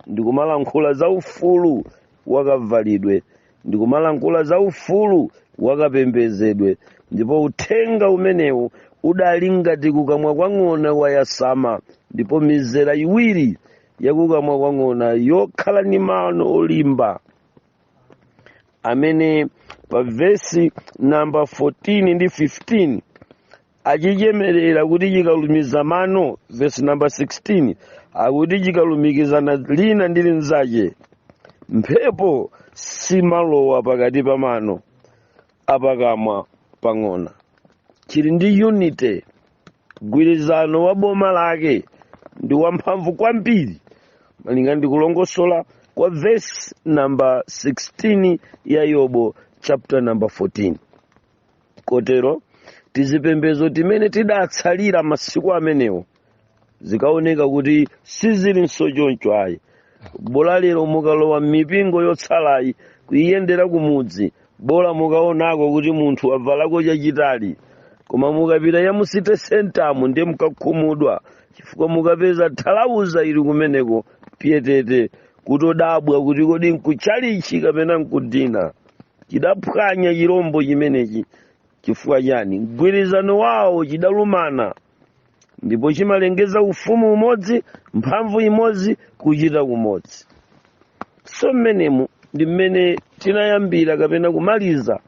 ndikumalankhula za ufulu wakavalidwe ndikumalankhula za ufulu wakapembedzedwe ndipo uthenga umenewu udali ngati kukamwa kwa ng'ona wayasama ndipo mizera iwiri yakukamwa kwa ng'ona yokhala ndi mano olimba amene pa vesi namba 14 ndi 15 achichemerera kuti chikalumiza mano vesi namba 16 akuti chikalumikizana lina ndi linzache mphepo siimalowa pakati pa mano apakamwa pa ng'ona chili ndi unity mgwirizano wa boma lake ndi wamphamvu kwambiri malinga ndi kulongosola kwa vesi namba 16 ya yobu chapter namba 14 kotero tizipembedzo timene tidatsalira masiku amenewo zikaoneka kuti sizilinso choncho ayi bola lero mukalowa m'mipingo yotsalayi kuyendera kumudzi bola mukaonako kuti munthu wavalako chachitali koma mukapita ya mu city center mu ndiye mukakhumudwa chifukwa mukapeza thalauza ili kumeneko pyetete kuchodabwa kuti kodi nkutchalitchi kapena nkudinner chidaphwanya chirombo chimenechi chifukwa chani mgwirizano wawo chidalumana ndipo chimalengeza ufumu umodzi mphamvu imodzi kuchita kumodzi so mmenemu ndi mmene tinayambira kapena kumaliza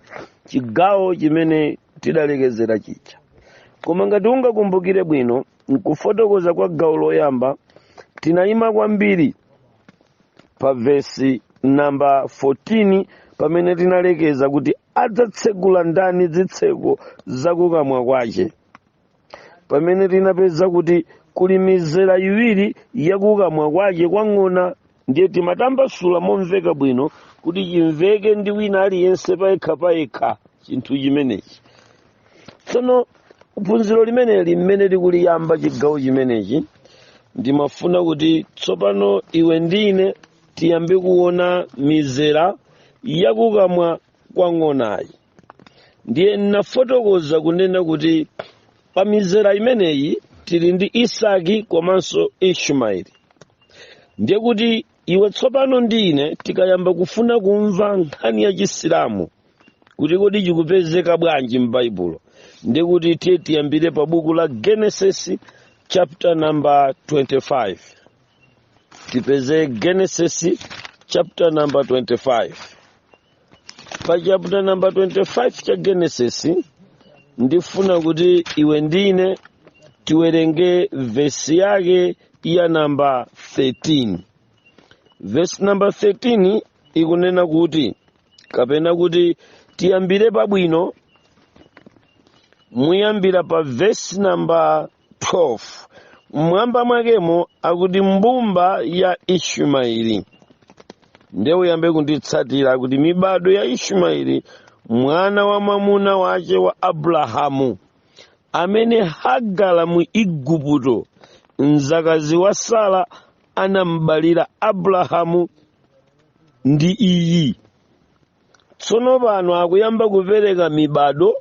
chigawo chimene tidalekezera chija koma ngati ungakumbukire bwino nkufotokoza kwa gawo loyamba tinayima kwambiri pa vesi namba 14 pamene tinalekeza kuti adzatsegula ndani zitseko zakukamwa kwache pamene tinapeza kuti kuli mizera iwiri yakukamwa kwache kwa ng'ona ndiye timatambasula momveka bwino kuti chimveke ndi wina aliyense payekha payekha chinthu chimenechi tsono phunziro limeneli mmene tikuliyamba chigawo chimenechi ndimafuna kuti tsopano iwe ndi ine tiyambe kuona mizera yakukamwa kwa ng'onayi ndiye nafotokoza kunena kuti pa mizera imeneyi tili ndi isaki komanso ishumaeli ndiye kuti iwe tsopano ndi ine tikayamba kufuna kumva nkhani ya chisilamu kuti kodi chikupezeka bwanji m'baibulo ndiye kuti tiye tiyambire pa buku la genesis chapter number 25 tipeze genesis chapter number 25 pa chapter namba 25 cha genesis ndifuna kuti iwe ndi ine tiwerenge vesi yake ya namba 13 vesi namba 13 ikunena kuti kapena kuti tiyambire pabwino muyambira pa vesi namba 12 mmwamba mwakemo akuti mbumba ya ishumaeli nde uyambe kunditsatira kuti mibado ya ishumaeli mwana wa mwamuna wache wa abrahamu amene hagara mu igupto mzakazi wa sara anambalira abrahamu ndi iyi tsono pano akuyamba kupereka mibado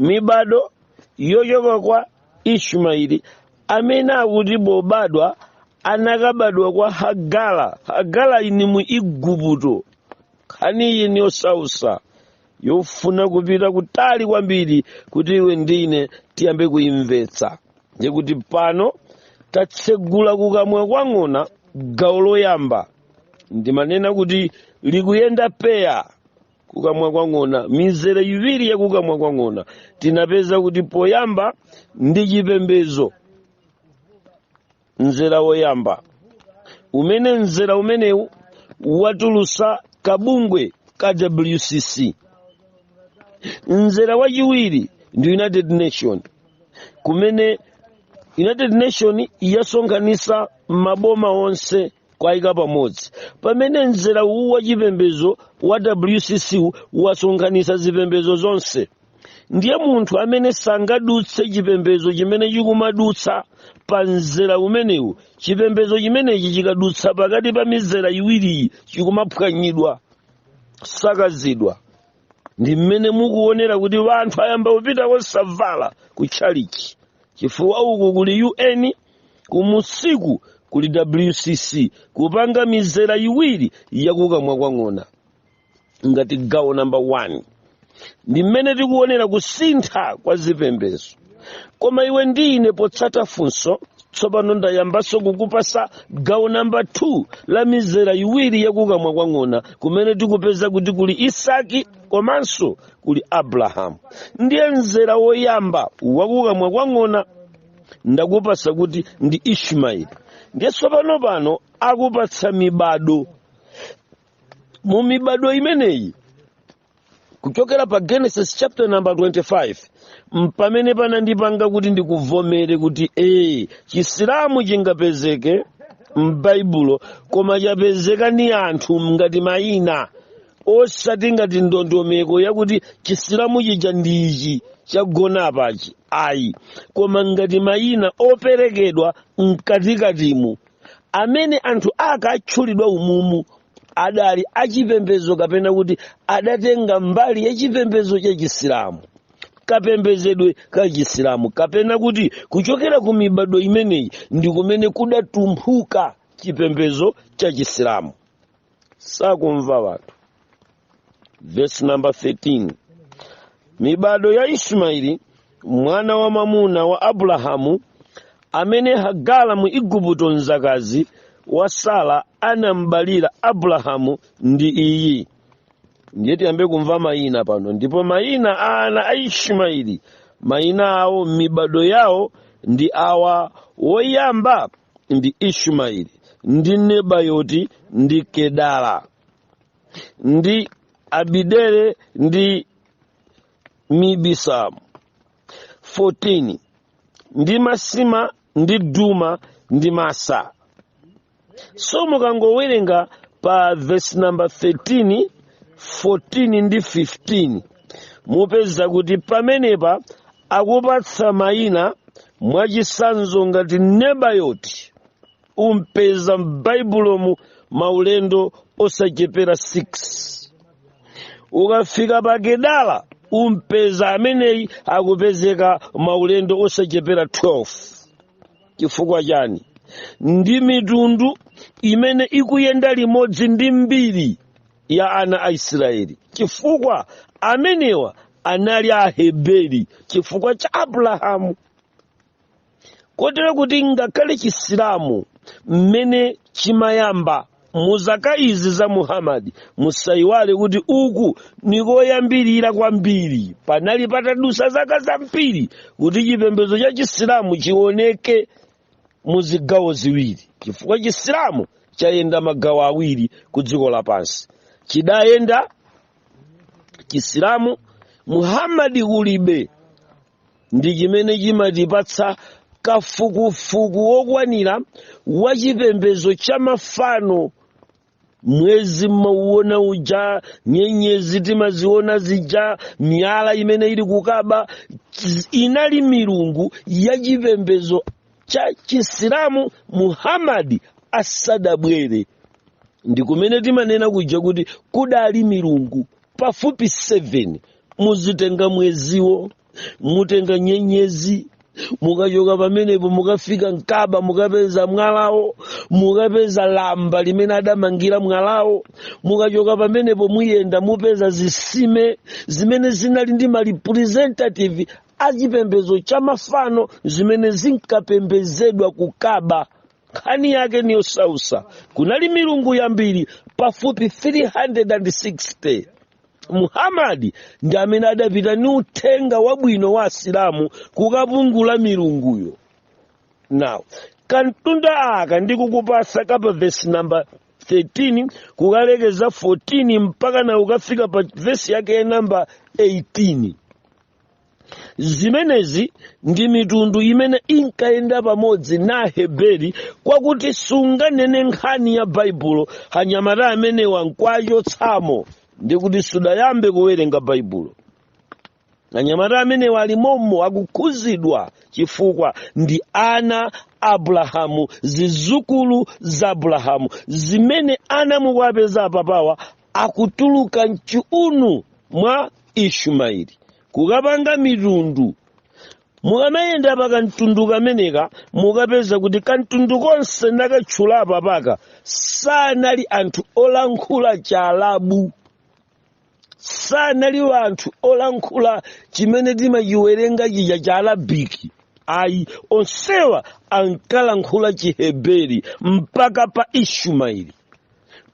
mibado yochoka kwa ishumaeli amene akuti pobadwa anakabadwa kwa hagala hagala ini mu igupto nkhani iyi ni yosausa yofuna kupita kutali kwambiri kuti iwe ndi ine tiyambe kuyimvetsa ndikuti pano tatsegula kukamwa kwa ng'ona gawo loyamba ndimanena kuti likuyenda peya kukamwa kwa ng'ona mizere iwiri ya kukamwa kwa ng'ona tinapeza kuti poyamba ndi chipembedzo mzera woyamba umene mzera umenewu watulusa kabungwe ka wcc mzera wachiwiri ndi united nation kumene united nation yasonkhanisa maboma onse kuwayika pamodzi pamene mzera uwu wa chipembedzo wa wcc wu wasonkhanitsa zipembedzo zonse ndiye munthu amene sangadutse chipembedzo chimene chikumadutsa pa mzera umenewu chipembedzo chimenechi chikadutsa pakati pa mizera iwiriyi chikumaphwanyidwa sakazidwa ndi mmene mukuonera kuti wanthu ayamba kupita osavala ku tchalichi chifukwa uku kuli un kumusiku kuli wcc kupanga mizera iwiri yakukamwa kwa ng'ona ngati gawo namba 1 ndi mmene tikuonera kusintha kwa zipembezo koma iwe ndi ine potsata funso tsopano ndayambanso kukupasa gawo namba 2 la mizera iwiri yakukamwa kwa ng'ona kumene tikupeza kuti kuli isaki komanso kuli abrahamu ndiye mzera woyamba wakukamwa kwa ng'ona ndakupasa kuti ndi ishimaeli ndiye tsopano pano akupatsa mibado mu mibado imeneyi kuchokera pa genesis chapter number 25 mpamene panandipanga kuti ndikuvomere kuti ee chisilamu chingapezeke m'baibulo koma chapezeka ni anthu ngati mayina osati ngati ndondomeko yakuti chisilamu chija ndi ichi chagona apachi ayi koma ngati mayina operekedwa mkatikatimu amene anthu akatchulidwa umumu adali achipembedzo kapena kuti adatenga mbali ya chipembedzo cha chisilamu kapembezedwe ka chisilamu kapena kuti kuchokera ku mibado imeneyi ndi kumene kudatumphuka chipembedzo cha chisilamu sakumva wanthu Verse number 13. Mibado ya Ishimaeli mwana wa mamuna wa Abulahamu amene Hagara mu Igupto mzakazi wa Sara anambalira Abulahamu ndi iyi. Ndiye tiyambe kumva mayina pano ndipo mayina a ana a Ishimaeli mayina awo m'mibado yawo ndi awa woyamba ndi Ishimaeli ndi Nebayoti ndi Kedara. ndi abidere ndi mibisamu 14 ndi masima ndi duma ndi masa so mukangowerenga pa verse number 13 14 ndi 15 mupeza kuti pamenepa akupatsa mayina mwachisanzo ngati nebayoti umpeza m'baibulomu maulendo osachepera 6 ukafika pa kedala umpeza ameneyi akupezeka maulendo osachepera 12 chifukwa chani ndi mitundu imene ikuyenda limodzi ndi mbiri ya ana a israeli chifukwa amenewa anali aheberi chifukwa cha abrahamu kotero kuti ngakhale chisilamu mmene chimayamba mu zaka izi za muhammadi musayiwale kuti uku nikoyambirira kwambiri panali patadusa zaka zambiri kuti chipembedzo cha chisilamu chioneke mu zigawo ziwiri chifukwa chisilamu chayenda magawo awiri ku dziko lapansi chidayenda chisilamu muhammadi kulibe ndi chimene chimatipatsa kafukufuku wokwanira wa chipembedzo cha mafano mwezi mmauona uja nyenyezi timaziona zija miyala imene ili kukaba ch- inali milungu ya chipembedzo cha chisilamu muhammadi asadabwere ndi kumene timanena kuja kuti kudali milungu pafupi 7 mudzatenga mweziwo mutenga nyenyezi mukachoka pamenepo mukafika mkaba mukapeza mwalawo mukapeza lamba limene adamangira mwalawo mukachoka pamenepo muyenda mupeza zitsime zimene zinali ndi ma representative achipembedzo cha mafano zimene zinkapembezedwa kukaba nkhani yake ni yosausa kunali milungu yambiri pafupi 360 muhamadi ndi amene adapita ni uthenga wabwino wa asilamu kukapungula milunguyo now kamtundu aka ndikukupatsa kapa vesi namba 13 kukalekeza 14 mpaka na ukafika pa vesi yake ya namba 18 zimenezi ndi mitundu imene inkayenda pamodzi na aheberi kwakuti sunganene nkhani ya baibulo anyamata amenewa nkwachotsamo ndi kuti sudayambe kuwerenga baibulo anyamata amenewa ali mommo akukhuzidwa chifukwa ndi ana a abulahamu zizukulu za abulahamu zimene ana mukuwapeza apapawa akutuluka mchiunu mwa ishumaeli kukapanga mitundu mukamayenda pa kamtundu kameneka mukapeza kuti kamtundu konse ndakatchula apapaka sanali anthu olankhula chalabu sanali anthu olankhula chimene timachiwerenga chija cha alabiki ayi onsewa ankalankhula chiheberi mpaka pa ishumaeli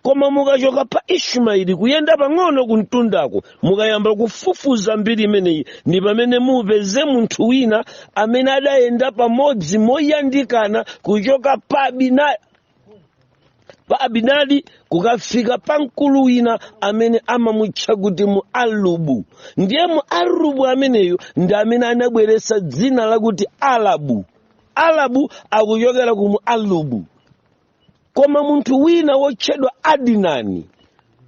koma mukachoka pa ishumaeli kuyenda pang'ono kumtundako mukayamba kufufuza mbiri imeneyi ndi pamene mupeze munthu wina amene adayenda pamodzi moyandikana kuchoka pa pa abinadi kukafika pa mkulu wina amene amamutcha kuti mu alubu ndiye mu alubu ameneyo ndi amene anabweretsa dzina lakuti alabu alabu akuchokera ku mu alubu koma munthu wina wotchedwa adinani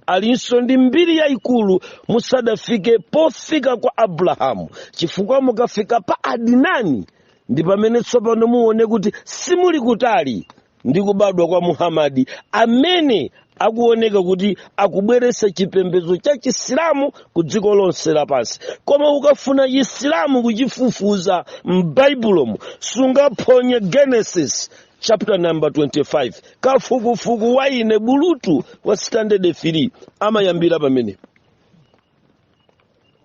alinso ndi mbiri yayikulu musadafike pofika kwa abrahamu chifukwa mukafika pa adinani ndi pamene tsopano muone kuti simuli kutali ndi kubadwa kwa muhamadi amene akuoneka kuti akubweretsa chipembedzo cha chisilamu ku dziko lonse lapansi koma ukafuna chisilamu kuchifufuza m'baibulomu sungaphonye genesis chapter number 25 kafukufuku wa ine bulutu wa standard 3 amayambira pamenepa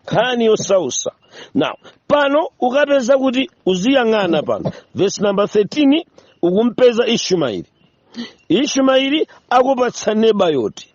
nkhani yosausa now pano ukapeza kuti uziyang'ana pano verse number 13 ukumpeza ishumaili ishumaili akupatsa nebayoti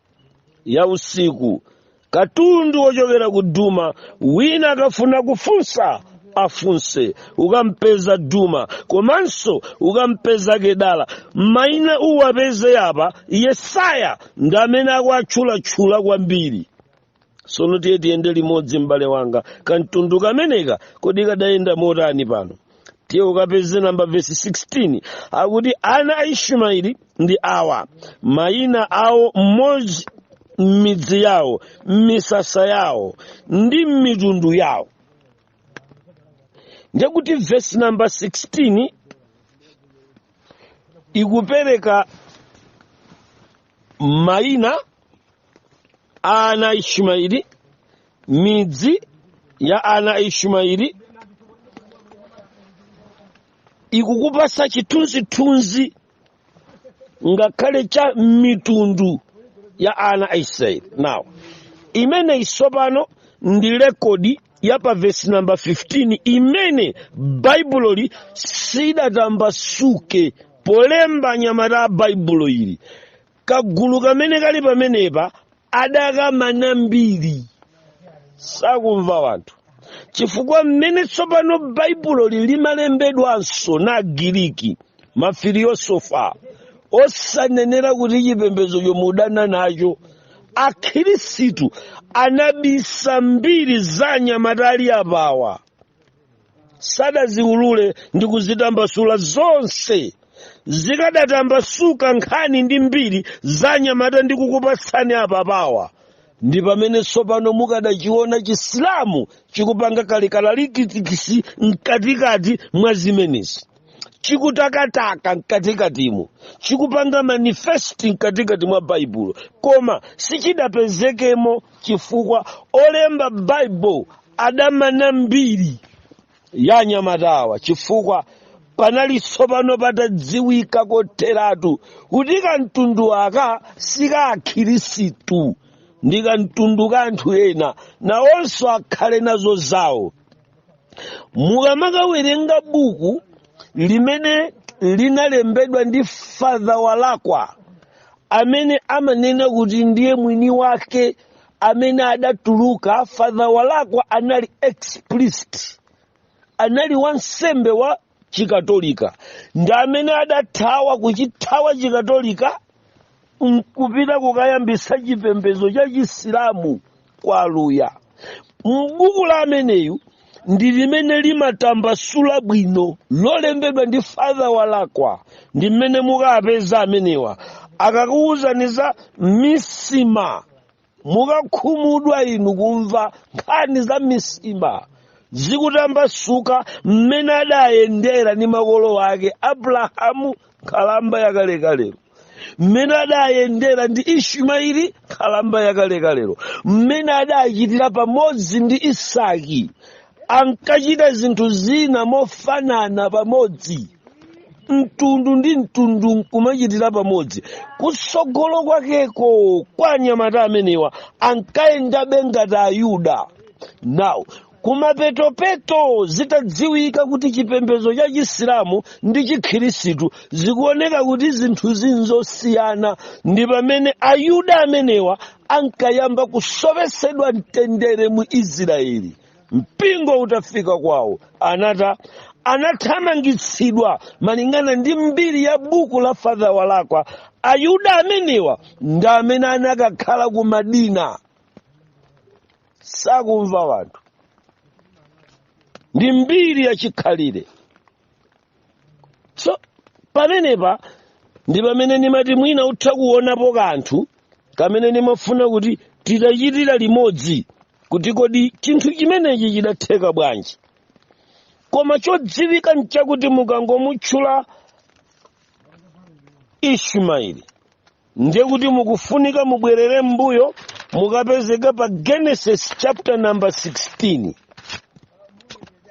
ya usiku katundu wochokera ku duma wina akafuna kufunsa afunse ukampeza duma komanso ukampeza kedara maina uwapeze apa yesaya ndi amene akuatchulatchula kwambiri sono tiye tiyende limodzi m'bale wanga kamtundu kameneka kodi kadayenda motani pano tiye ukapeze namba vesi 16 akuti ana a ishumaili ndi awa mayina awo mmodzi m'midzi yawo m'misasa yawo ndi m'mitundu yawo ndekuti vesi namba 16 ikupereka mayina a ana a ishumaeli midzi ya ana a ishumaeli ikukupasa chithunzithunzi ngakhale cha mitundu ya ana a israeli now imeneyi tsopano ndi rekodi ya pa vesi namba 15 imene baibuloli sidatambasuke polemba anyamata a baibulo ili kagulu kamene kali pamenepa adakamana mbiri sakumva wanthu chifukwa mmene tsopano baibuloli limalembedwanso na agiriki mafiliyosofa osanenera kuti chipembedzo chomwe udana nacho akhirisitu anabisa mbiri za anyamata ali apawa sadaziulule ndi kuzitambasula zonse zikadatambasuka nkhani ndi mbiri za anyamata ndikukupatsani apapawa ndi pamene tsopano mukadachiona chisilamu chikupanga kalikiliki mkatikati mwa zimenezi chikutakataka mkatikatimo chikupanga manifest mkatikati mwa baibulo koma sichidapezekemo chifukwa olemba baibulo adamana mbiri ya anyamatawa chifukwa panali tsopano patadziwika kotheratu kuti kamtundu aka sika akhirisitu ndi kamtundu ka anthu ena nawonso akhale nazo zawo mukamakawerenga buku limene linalembedwa ndi father walakwa amene amanena kuti ndiye mwini wake amene adatuluka father walakwa anali ex priest anali wansembe wa chikatolika ndi amene adathawa kuchithawa chikatolika nkupita kukayambisa chipembedzo cha chisilamu kwa aluya mbuku la ameneyu ndi limene limatambasula bwino lolembedwa ndi father walakwa ndi mmene mukapeza amenewa akakuwuzani za misima mukakhumudwa inu kumva nkhani za misima zikutambasuka mmene adayendera ndi makolo ake abrahamu nkhalamba yakalekalero mmene adayendera ndi ishimaeli nkhalamba yakalekalero mmene adachitira pamodzi ndi isaki ankachita zinthu zina mofanana pamodzi mtundu ndi mtundu nkumachitira pamodzi kutsogolo kwakeko kwa anyamata amenewa ankayendabe ngati ayuda now kumapetopeto zitadziwika kuti chipembedzo cha chisilamu ndi chikhirisitu zikuoneka kuti zinthuzi nzosiyana ndi pamene ayuda amenewa ankayamba kusowesedwa mtendere mu israeli mpingo utafika kwawo anata anathamangitsidwa malingana ndi mbiri ya buku la father walakwa ayuda amenewa ndi amene anakakhala ku madina sakumva wanthu ndi mbiri yachikhalire so pamenepa ndi pamene ndimati mwina utha kuonapo kanthu kamene ndimafuna kuti titachitira limodzi kuti kodi chinthu chimenechi chidatheka bwanji koma chodziwika nchakuti mukangomutchula ishimaeli ndiye kuti mukufunika mubwerere m'mbuyo mukapezeka pa genesis chapter number 16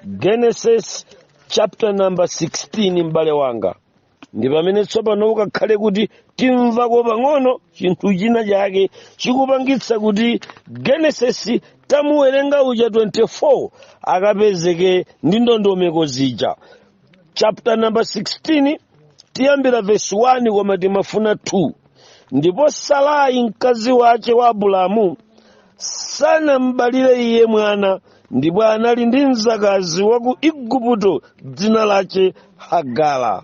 genesis chapter number 16 m'bale wanga ndi pamene tsopano ukakhale kuti timvako pang'ono chinthu china chake chikupangitsa kuti genesis tamuwerenga uja 24 akapezeke ndi ndondomeko zija chapter number 16 tiyambira verse 1 koma timafuna 2 ndipo sarai mkazi wace wa abulamu sanambalire iye mwana ndipo anali ndi mzakazi wa ku igupto dzina lace hagara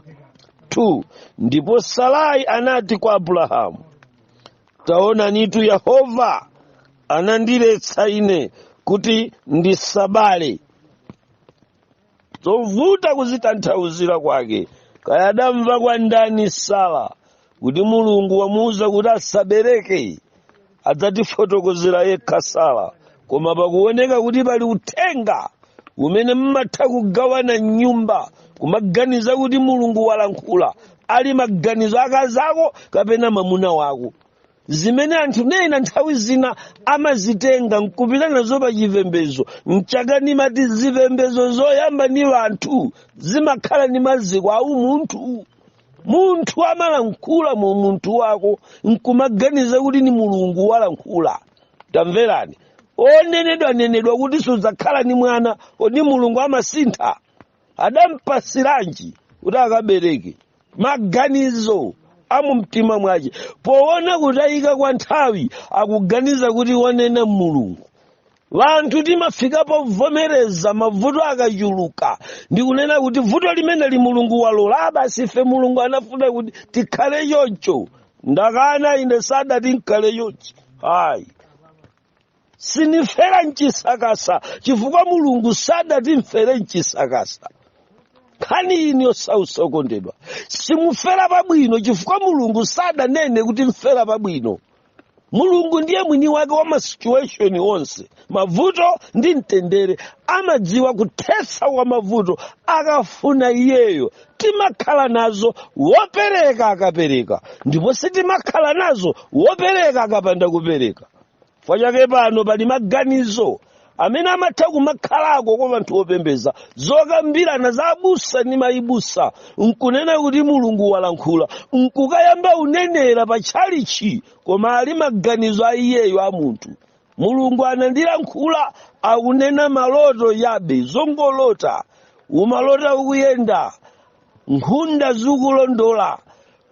2 ndipo sarai anati kwa abulahamu taonanitu yehova anandiletsa ine kuti ndisabale zovuta kuzitanthauzira kwake kaya adamva kwa ndani sala kuti mulungu wamuwuza kuti asabereke adzatifotokozera yekha sala koma pakuoneka kuti pali uthenga umene mmatha kugawana mnyumba kumaganiza kuti mulungu walankhula ali maganizo akazako kapena mamuna wako zimene anthu nena nthawi zina amazitenga nkupita nazo pa chipembezo nchake nimati zipembezo zoyamba ni anthu zimakhala ni maziko a umunthu munthu amalankhula mu umunthu wako nkumaganiza kuti ni mulungu walankhula tamverani onenedwa nenedwa kuti sudzakhala ni mwana kodi mulungu amasintha adampatsiranji kuti akabereke maganizo amumtima mwace poona kutayika kwa nthawi akuganiza kuti wanena mulungu wanthu timafika povomereza mavuto akachuluka ndikunena kuti vuto limeneli mulungu walola a basi ife mulungu anafuna kuti tikhale choncho ndakana ine sadati nkhale chonchi hayi sinimfera mchisakasa chifukwa mulungu sadati mfere mchisakasa nkhani ino yosausa okondedwa simufera pabwino chifukwa mulungu sadanene kuti mfera pabwino mulungu ndiye mwini wake wa masituation onse mavuto ndi mtendere amadziwa kuthetsa kwa mavuto akafuna iyeyo timakhala nazo wopereka akapereka ndipo sitimakhala nazo wopereka akapanda kupereka chifukwa chake pano pali maganizo amene amatha kumakhalako kwa anthu opembeza zokambirana za abusa ni mayibusa nkunena kuti mulungu walankhula nkukayamba unenera pa tchalichi koma ali maganizo a iyeyo a munthu mulungu anandilankhula akunena maloto yabe zongolota umalota ukuyenda nkhunda zikukulondola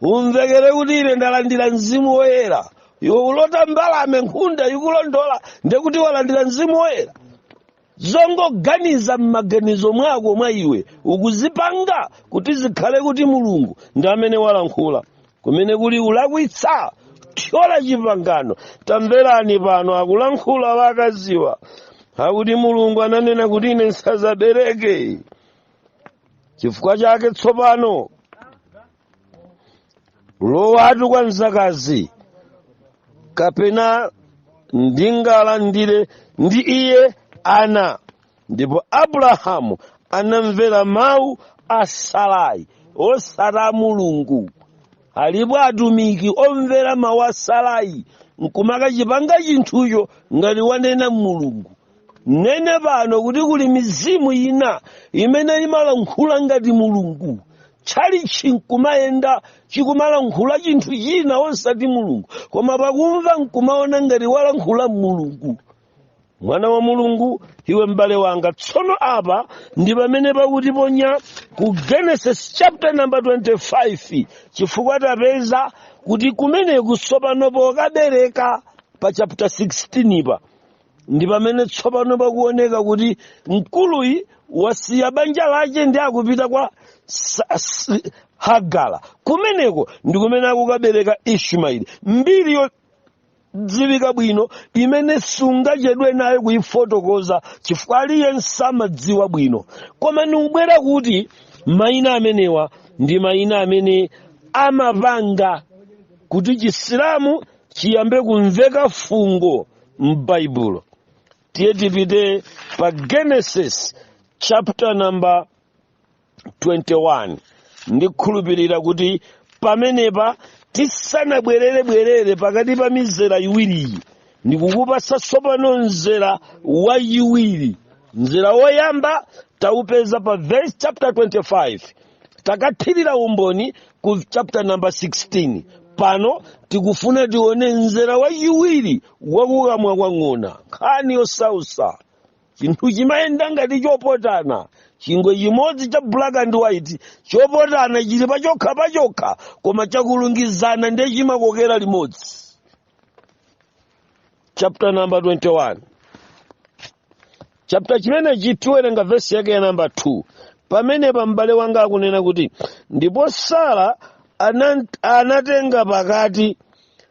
umvekere kuti ine ndalandira mzimu woyera iwe ulota mbalame nkhunda ikulondola ndekuti walandira mzimu woyera zongoganiza m'maganizo mwako mwa iwe ukuzipanga kuti zikhale kuti mulungu ndi amene walankhula kumene kuli ulakwitsa thyola chipangano tamverani pano akulankhula wakaziwa akuti mulungu ananena kuti ine nsazabereke chifukwa chake tsopano lowatu kwa mzakazi kapena ndingalandire ndi iye ana ndipo abrahamu anamvera mawu a sarai osati mulungu alipo atumiki omvera mawu a sarai nkumakachipanga chinthucho ngati wanena mulungu nene pano kuti kuli mizimu ina imene imalankhula ngati mulungu tchalichi nkumayenda chikumalankhula chinthu china osati mulungu koma pakumva nkumaona ngati walankhula mulungu mwana wa mulungu iwe m'bale wanga tsono apa ndi pamene pakutiponya ku genesis chapter number 25 chifukwa tapeza kuti kumeneku tsopano pokabereka pa chapter 16 pa ndi pamene tsopano pakuoneka kuti mkuluyi wasiya banja lake ndi akupita kwa Sa- S- hagara kumeneko ndi kumene akukabereka ishumaeli mbiri yodziwika bwino imene sungachedwe nayo kuyifotokoza chifukwa aliyense amadziwa bwino koma nikubwera kuti mayina amenewa ndi mayina amene amapanga kuti chisilamu chiyambe kumveka fungo m'baibulo tiye tipite pa genesis chapter number 21 ndikhulupirira kuti pamenepa tisanabwererebwerere pakati pa mizera iwiriyi ndikukupasa tsopano mzera wachiwiri mzera woyamba taupeza pa verse chapter 25 takathirira umboni ku chapter number 16 pano tikufuna tione mzera wachiwiri wakukamwa kwa ng'ona nkhani yosausa chinthu chimayenda ngati chopotana chingwe chimodzi cha black and white chopotana chili pachokha pachokha koma chakulungizana ndiye chimakokera limodzi chapter number 21 chapter chimenechi tiwerenga vesi yake ya namba 2 pamenepa m'bale wanga akunena kuti ndipo sara anatenga pakati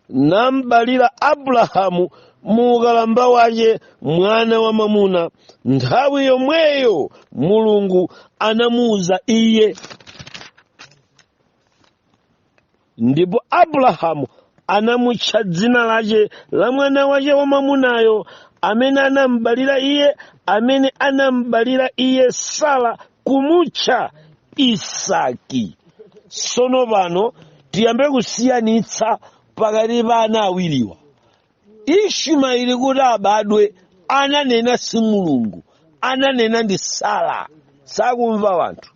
nambalira abrahamu mu ukalamba wace mwana wa mwamuna nthawi yomweyo mulungu anamuwuza iye ndipo abrahamu anamutcha dzina lace la mwana wace wamwamunayo amene anambalira iye amene anambalira iye sara kumutcha isaki sono pano tiyambe kusiyanitsa pakati pa ana awiriwa ishumaeli kuti abadwe ananena si mulungu ananena ndi sara sakumva wanthu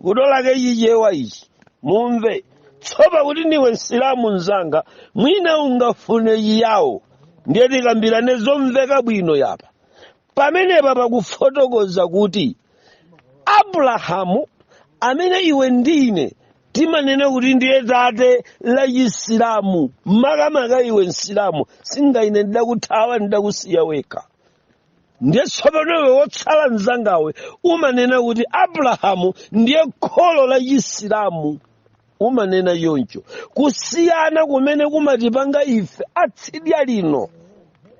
kutolake chichewa ichi mumve tsopa kuti ndiwe msilamu mzanga mwina ungafune chiyawo ndiye tikambirane zomveka bwino yapa pamenepa pakufotokoza kuti abrahamu amene iwe ndine timanena kuti ndiye tate la chisilamu makamaka iwe msilamu singaine ndidakuthawa ndidakusiya wekha ndiye tsopano iwe wotsala mzangawe umanena kuti abrahamu ndiye kholo la chisilamu umanena choncho kusiyana kumene kumatipanga ife atsidya lino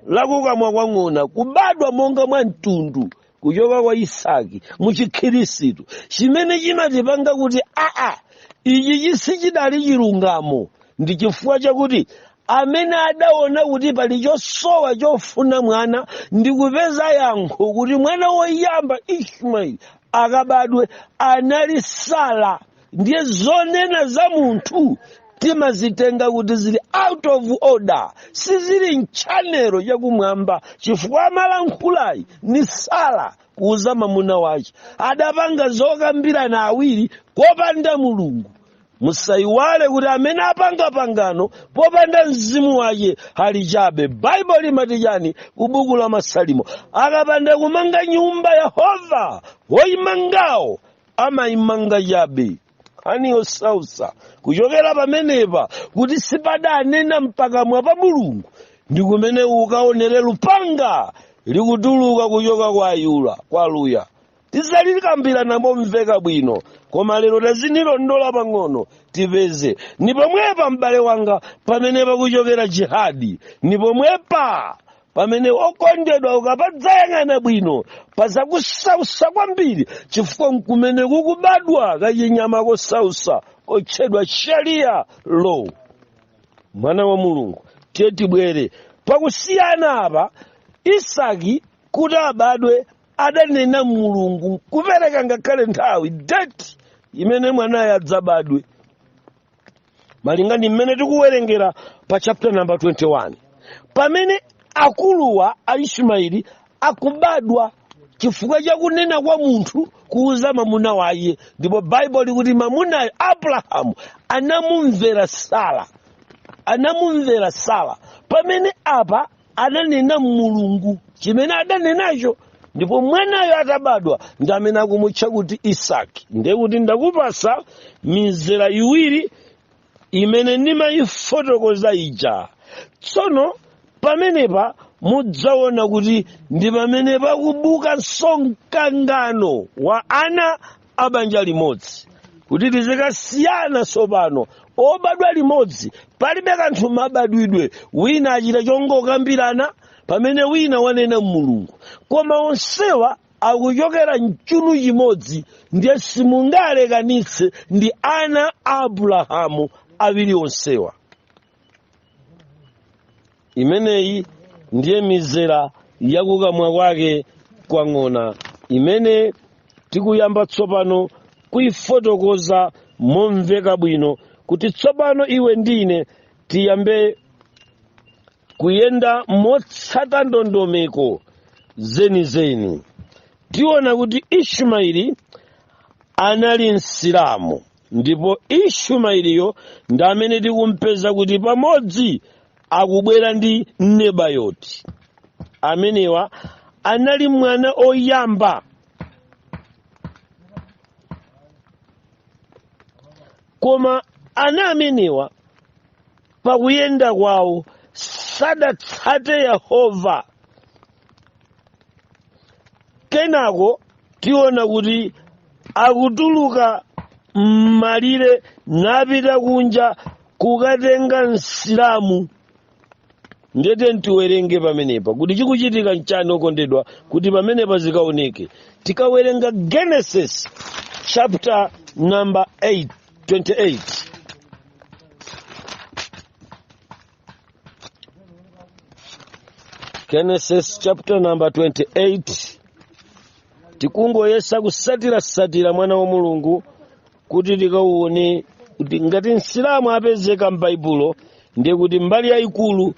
lakukamwa kwa ng'ona kubadwa monga mwa mtundu kuchoka kwa isaki muchikhirisitu chimene chimatipanga kuti aa ichi chisi chidali chilungamo ndi chifukwa chakuti amene adaona kuti pali chosowa chofuna mwana ndi kupeza yankho kuti mwana woyamba ishmaeli akabadwe anali sara ndiye zonena za munthu timazitenga kuti zili out of order sizili mchanelo chakumwamba chifukwa amalankhulayi ni sara kuuza mamuna wace adapanga zokambirana awiri kopanda mulungu musayiwale kuti amene apanga pangano popanda mzimu wace ali chabe baibulo limati chani kubuku la masalimo akapanda kumanga nyumba yehova woyimangawo amaimanga chabe nkhani yosausa kuchokera pamenepa kuti sipadanena mpakamwa pa mulungu ndi kumene ukaonere lupanga likutuluka kuchoka kwa ayuda kwa luya tizalikambirana momveka bwino koma lero tazinilondola pang'ono tipeze ni pomwepa m'bale wanga pamene pakuchokera jihadi ni pomwepa pamene okondedwa ukapadzayang'ana bwino pazakusausa kwambiri chifukwa nkumene kukubadwa kachinyama kosausa kotchedwa sharia law mwana wa mulungu tiye tibwere pakusiyana apa isaki kuti abadwe adanena mulungu kupereka ngakhale nthawi date imene mwanayo adzabadwe malinga ndi mmene tikuwerengera pa chapter number 21 pamene akuluwa a ismaeli akubadwa chifukwa cha kunena kwa munthu kuuza mamuna waye ndipo baibulo likuti mamunayo abrahamu anamumvera sara pamene apa adanena mulungu chimene adanenacho ndipo mwanayo atabadwa ndi amene akumutcha kuti isaki ndiye kuti ndakupasa mizera iwiri imene ndimayifotokoza ija tsono pamenepa mudzaona kuti ndi pamene pakubuka mkangano wa ana abanja limodzi kuti tizikasiyana tsopano obadwa limodzi palibe kanthu mabadwidwe wina achita chongokambirana pamene wina wanena mulungu koma onsewa akuchokera mchunu chimodzi ndiye simungawalekanitse ndi ana a abulahamu awiri onsewa imeneyi ndiye mizera yakukamwa kwake kwa ng'ona imene tikuyamba tsopano kuyifotokoza momveka bwino kuti tsopano iwe ndi ine tiyambe kuyenda motsata ndondomeko zenizeni tiona kuti ishumaeli anali msilamu ndipo ishumaeliyo ndi amene tikumpeza kuti pamodzi akubwera ndi nebayoti amenewa anali mwana oyamba koma ana amenewa pakuyenda kwawo sadatsate yehova kenako tiona kuti akutuluka m'malire napita kunja kukatenga msilamu ndete ntiwerenge pamenepa kuti chikuchitika nchani okondedwa kuti pamenepa zikaoneke tikawerenga genesis chapter number 8 28 genesis chapter number 28 tikungoyesa kusatirasatira mwana wa mulungu kuti tikauone kuti ngati msilamu apezeka m'baibulo ndiye kuti mbali yayikulu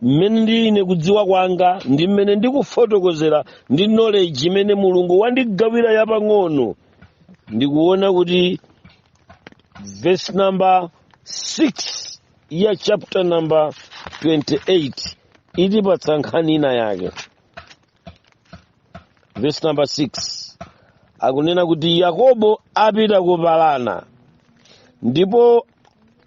mmene ineyo kudziwa kwanga ndi mmene ndikufotokozera ndi knowledge imene mulungu wandigawira yapang'ono ndikuona kuti verse number 6 ya chapter number 28 itipatsa nkhani ina yake verse number 6 akunena kuti yakobo apita ku Padana ndipo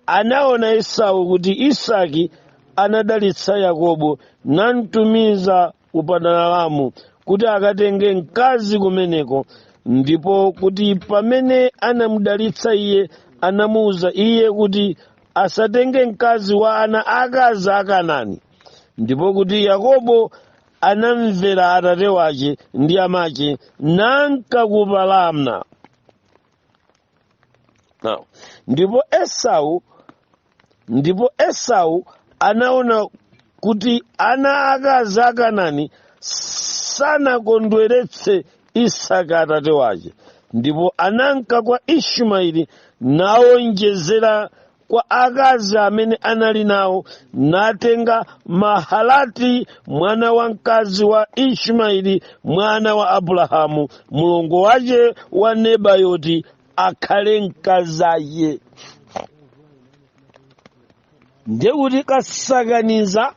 anaona esau kuti isaki anadalitsa yakobo namtumiza ku padanaramu kuti akatenge mkazi kumeneko ndipo kuti pamene anamudalitsa iye anamuwuza iye kuti asatenge mkazi wa ana akazi a Kanani ndipo kuti yakobo anamvera atate wace ndi amace nanka ku Padana Now, ndipo esau ndipo esau anaona kuti ana akazi a kanani sanakondweretse isaki atate wace ndipo ananka kwa ishumaeli naonjezera kwa akazi amene anali nawo natenga mahalati mwana wamkazi wa ishumaeli mwana wa abulahamu mulongo wace wa nebayoti akhale mkazace ndekuti kasakaniza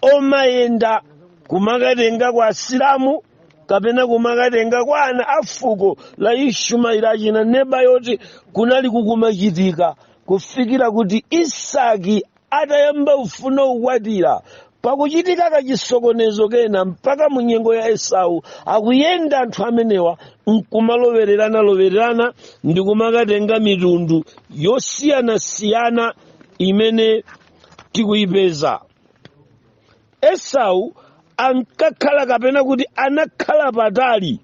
omayenda kumakatenga kwa asilamu kapena kumakatenga kwa ana a fuko la ishumaili achina Nebayoti kunali kukumachitika kufikira kuti isaki atayamba kufuna kukwatira pakuchitika kachisokonezo kena mpaka mu nyengo ya esau akuyenda anthu amenewa nkumalowererana lowererana ndi kumakatenga mitundu yosiyanasiyana imene tikuyipeza esau ankakhala kapena kuti anakhala patali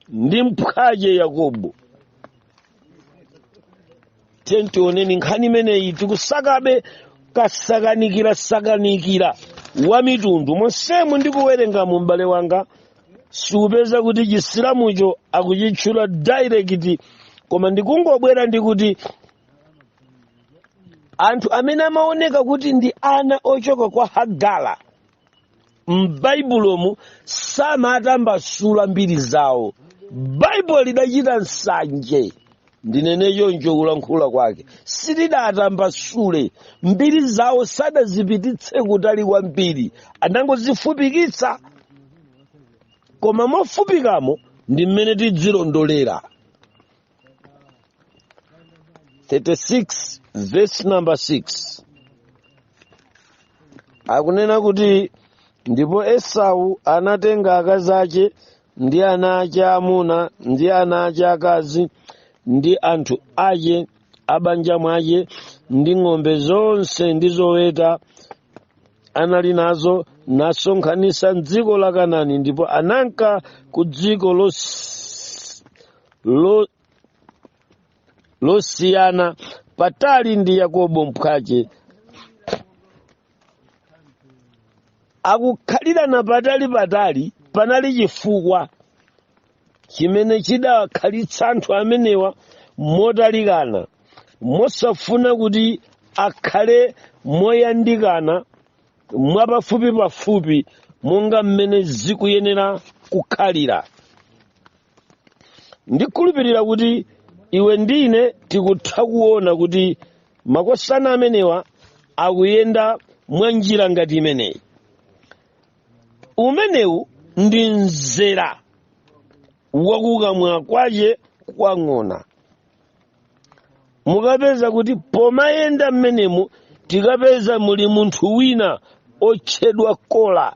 ndi mphwache yakobo tiyeni tione nkhani imeneyi tikusakabe kasakanikira sakanikira wa mitundu monsemu ndikuwerengamu m'bale wanga siupeza kuti chisilamucho akuchitchula direct koma ndikungobwera ndikuti anthu amene amaoneka kuti ndi ana ochoka kwa hagala m'baibulomu samatambasula mbiri zawo baibulo lidachita nsanje ndinene choncho kulankhula kwake silidatambasule mbiri zawo sadazipititse kutali kwambiri anangozifupikitsa koma mofupikamo ndi mmene tidzilondolera 36 verse number 6 akunena kuti ndipo esau anatenga akazi ace ndi ana ace amuna ndi ana ace akazi ndi anthu ace abanja mwace ndi ng'ombe zonse ndi zoweta anali nazo nasonkhanisa mdziko la kanani ndipo ananka ku dziko los- lo, losiyana patali ndi yakobo mphwace akukhalirana patali patali panali chifukwa chimene chidakhalitsa anthu amenewa motalikana mosafuna kuti akhale moyandikana mwapafupi pafupi monga mmene zikuyenera kukhalira ndikhulupirira kuti iwe ndi ine tikutha kuona kuti makosana amenewa akuyenda mwa njira ngati imeneyi umenewu ndi mzera wakukamwa kwache kwa ng'ona mukapeza kuti pomayenda mmenemu tikapeza muli munthu wina otchedwa kola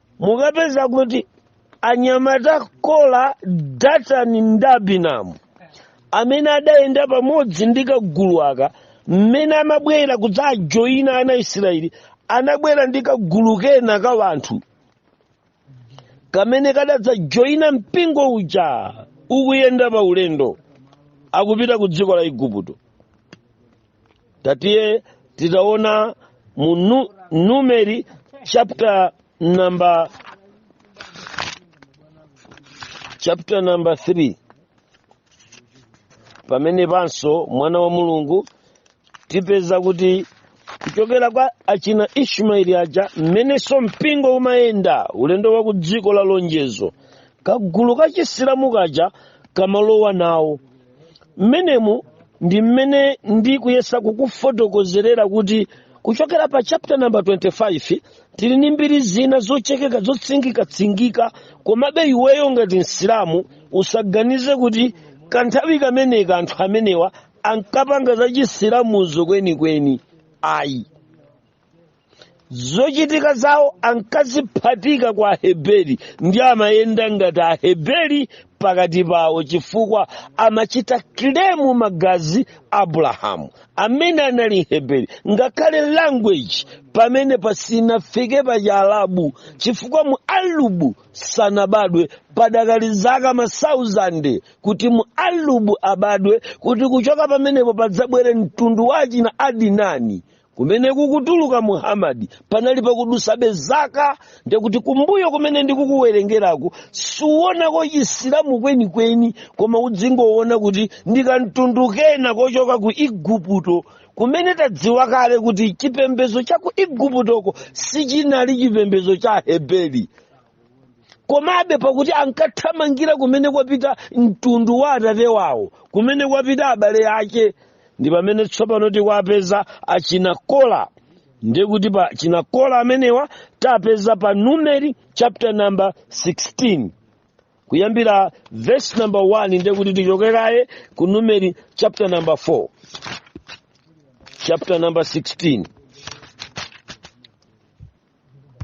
mukapeza kuti anyamata kola datani ndi abiramu amene adayenda pamodzi ndi kagulu aka mmene amabwera kudzajoyina ana isiraeli anabwera ndi kagulu kena ka wanthu kamene kadadzajoyina mpingo uja ukuyenda pa ulendo akupita ku dziko la igupto tatiye titaona mu nu, numeri chapter number 3 pamene panso mwana wa mulungu tipeza kuti kuchokera kwa achina ishmaeli aja mmenenso mpingo umayenda ulendo wa ku dziko la lonjezo kagulu kachisilamu kaja kamalowa nawo mmenemu ndi mmene ndikuyesa kukufotokozerera kuti kuchokera pa chapter number 25 tili ndi mbiri zina zochekeka zotsingikatsingika komabe iweyo ngati msilamu usaganize kuti kanthawi kameneka anthu amenewa ankapanga za chisilamuzo kwenikweni ayi zochitika zawo ankaziphatika kwa aheberi ndi amayenda ngati aheberi pakati pawo chifukwa amachita kilemu magazi a abulahamu amene anali mheberi ngakhale language pamene pasinafike pa chialabu chifukwa mualubu sanabadwe padakali zaka masauzande kuti mualubu abadwe kuti kuchoka pamenepo padzabwere mtundu wa achina adinani kumene kukutuluka muhamadi padali pakudusabe zaka ndiye kuti kumbuyo kumene ndikukuwerengeraku suwonako chisilamu kwenikweni koma uzingowona kuti ndi kamtundu kena kochoka ku igupto kumene tadziwa kale kuti chipembedzo cha ku iguptoko sichinali chipembedzo cha aheberi komabe pakuti ankathamangira kumene kwapita mtundu wa atate wawo kumene kwapita abale ake ndi pamene tsopano tikuwapeza achina kola ndiye kuti pa achina kola amenewa tapeza pa numeri chapter number 16 kuyambira verse number 1 ndiye kuti tichoke kaye ku numeri chapter number 4 chapter number 16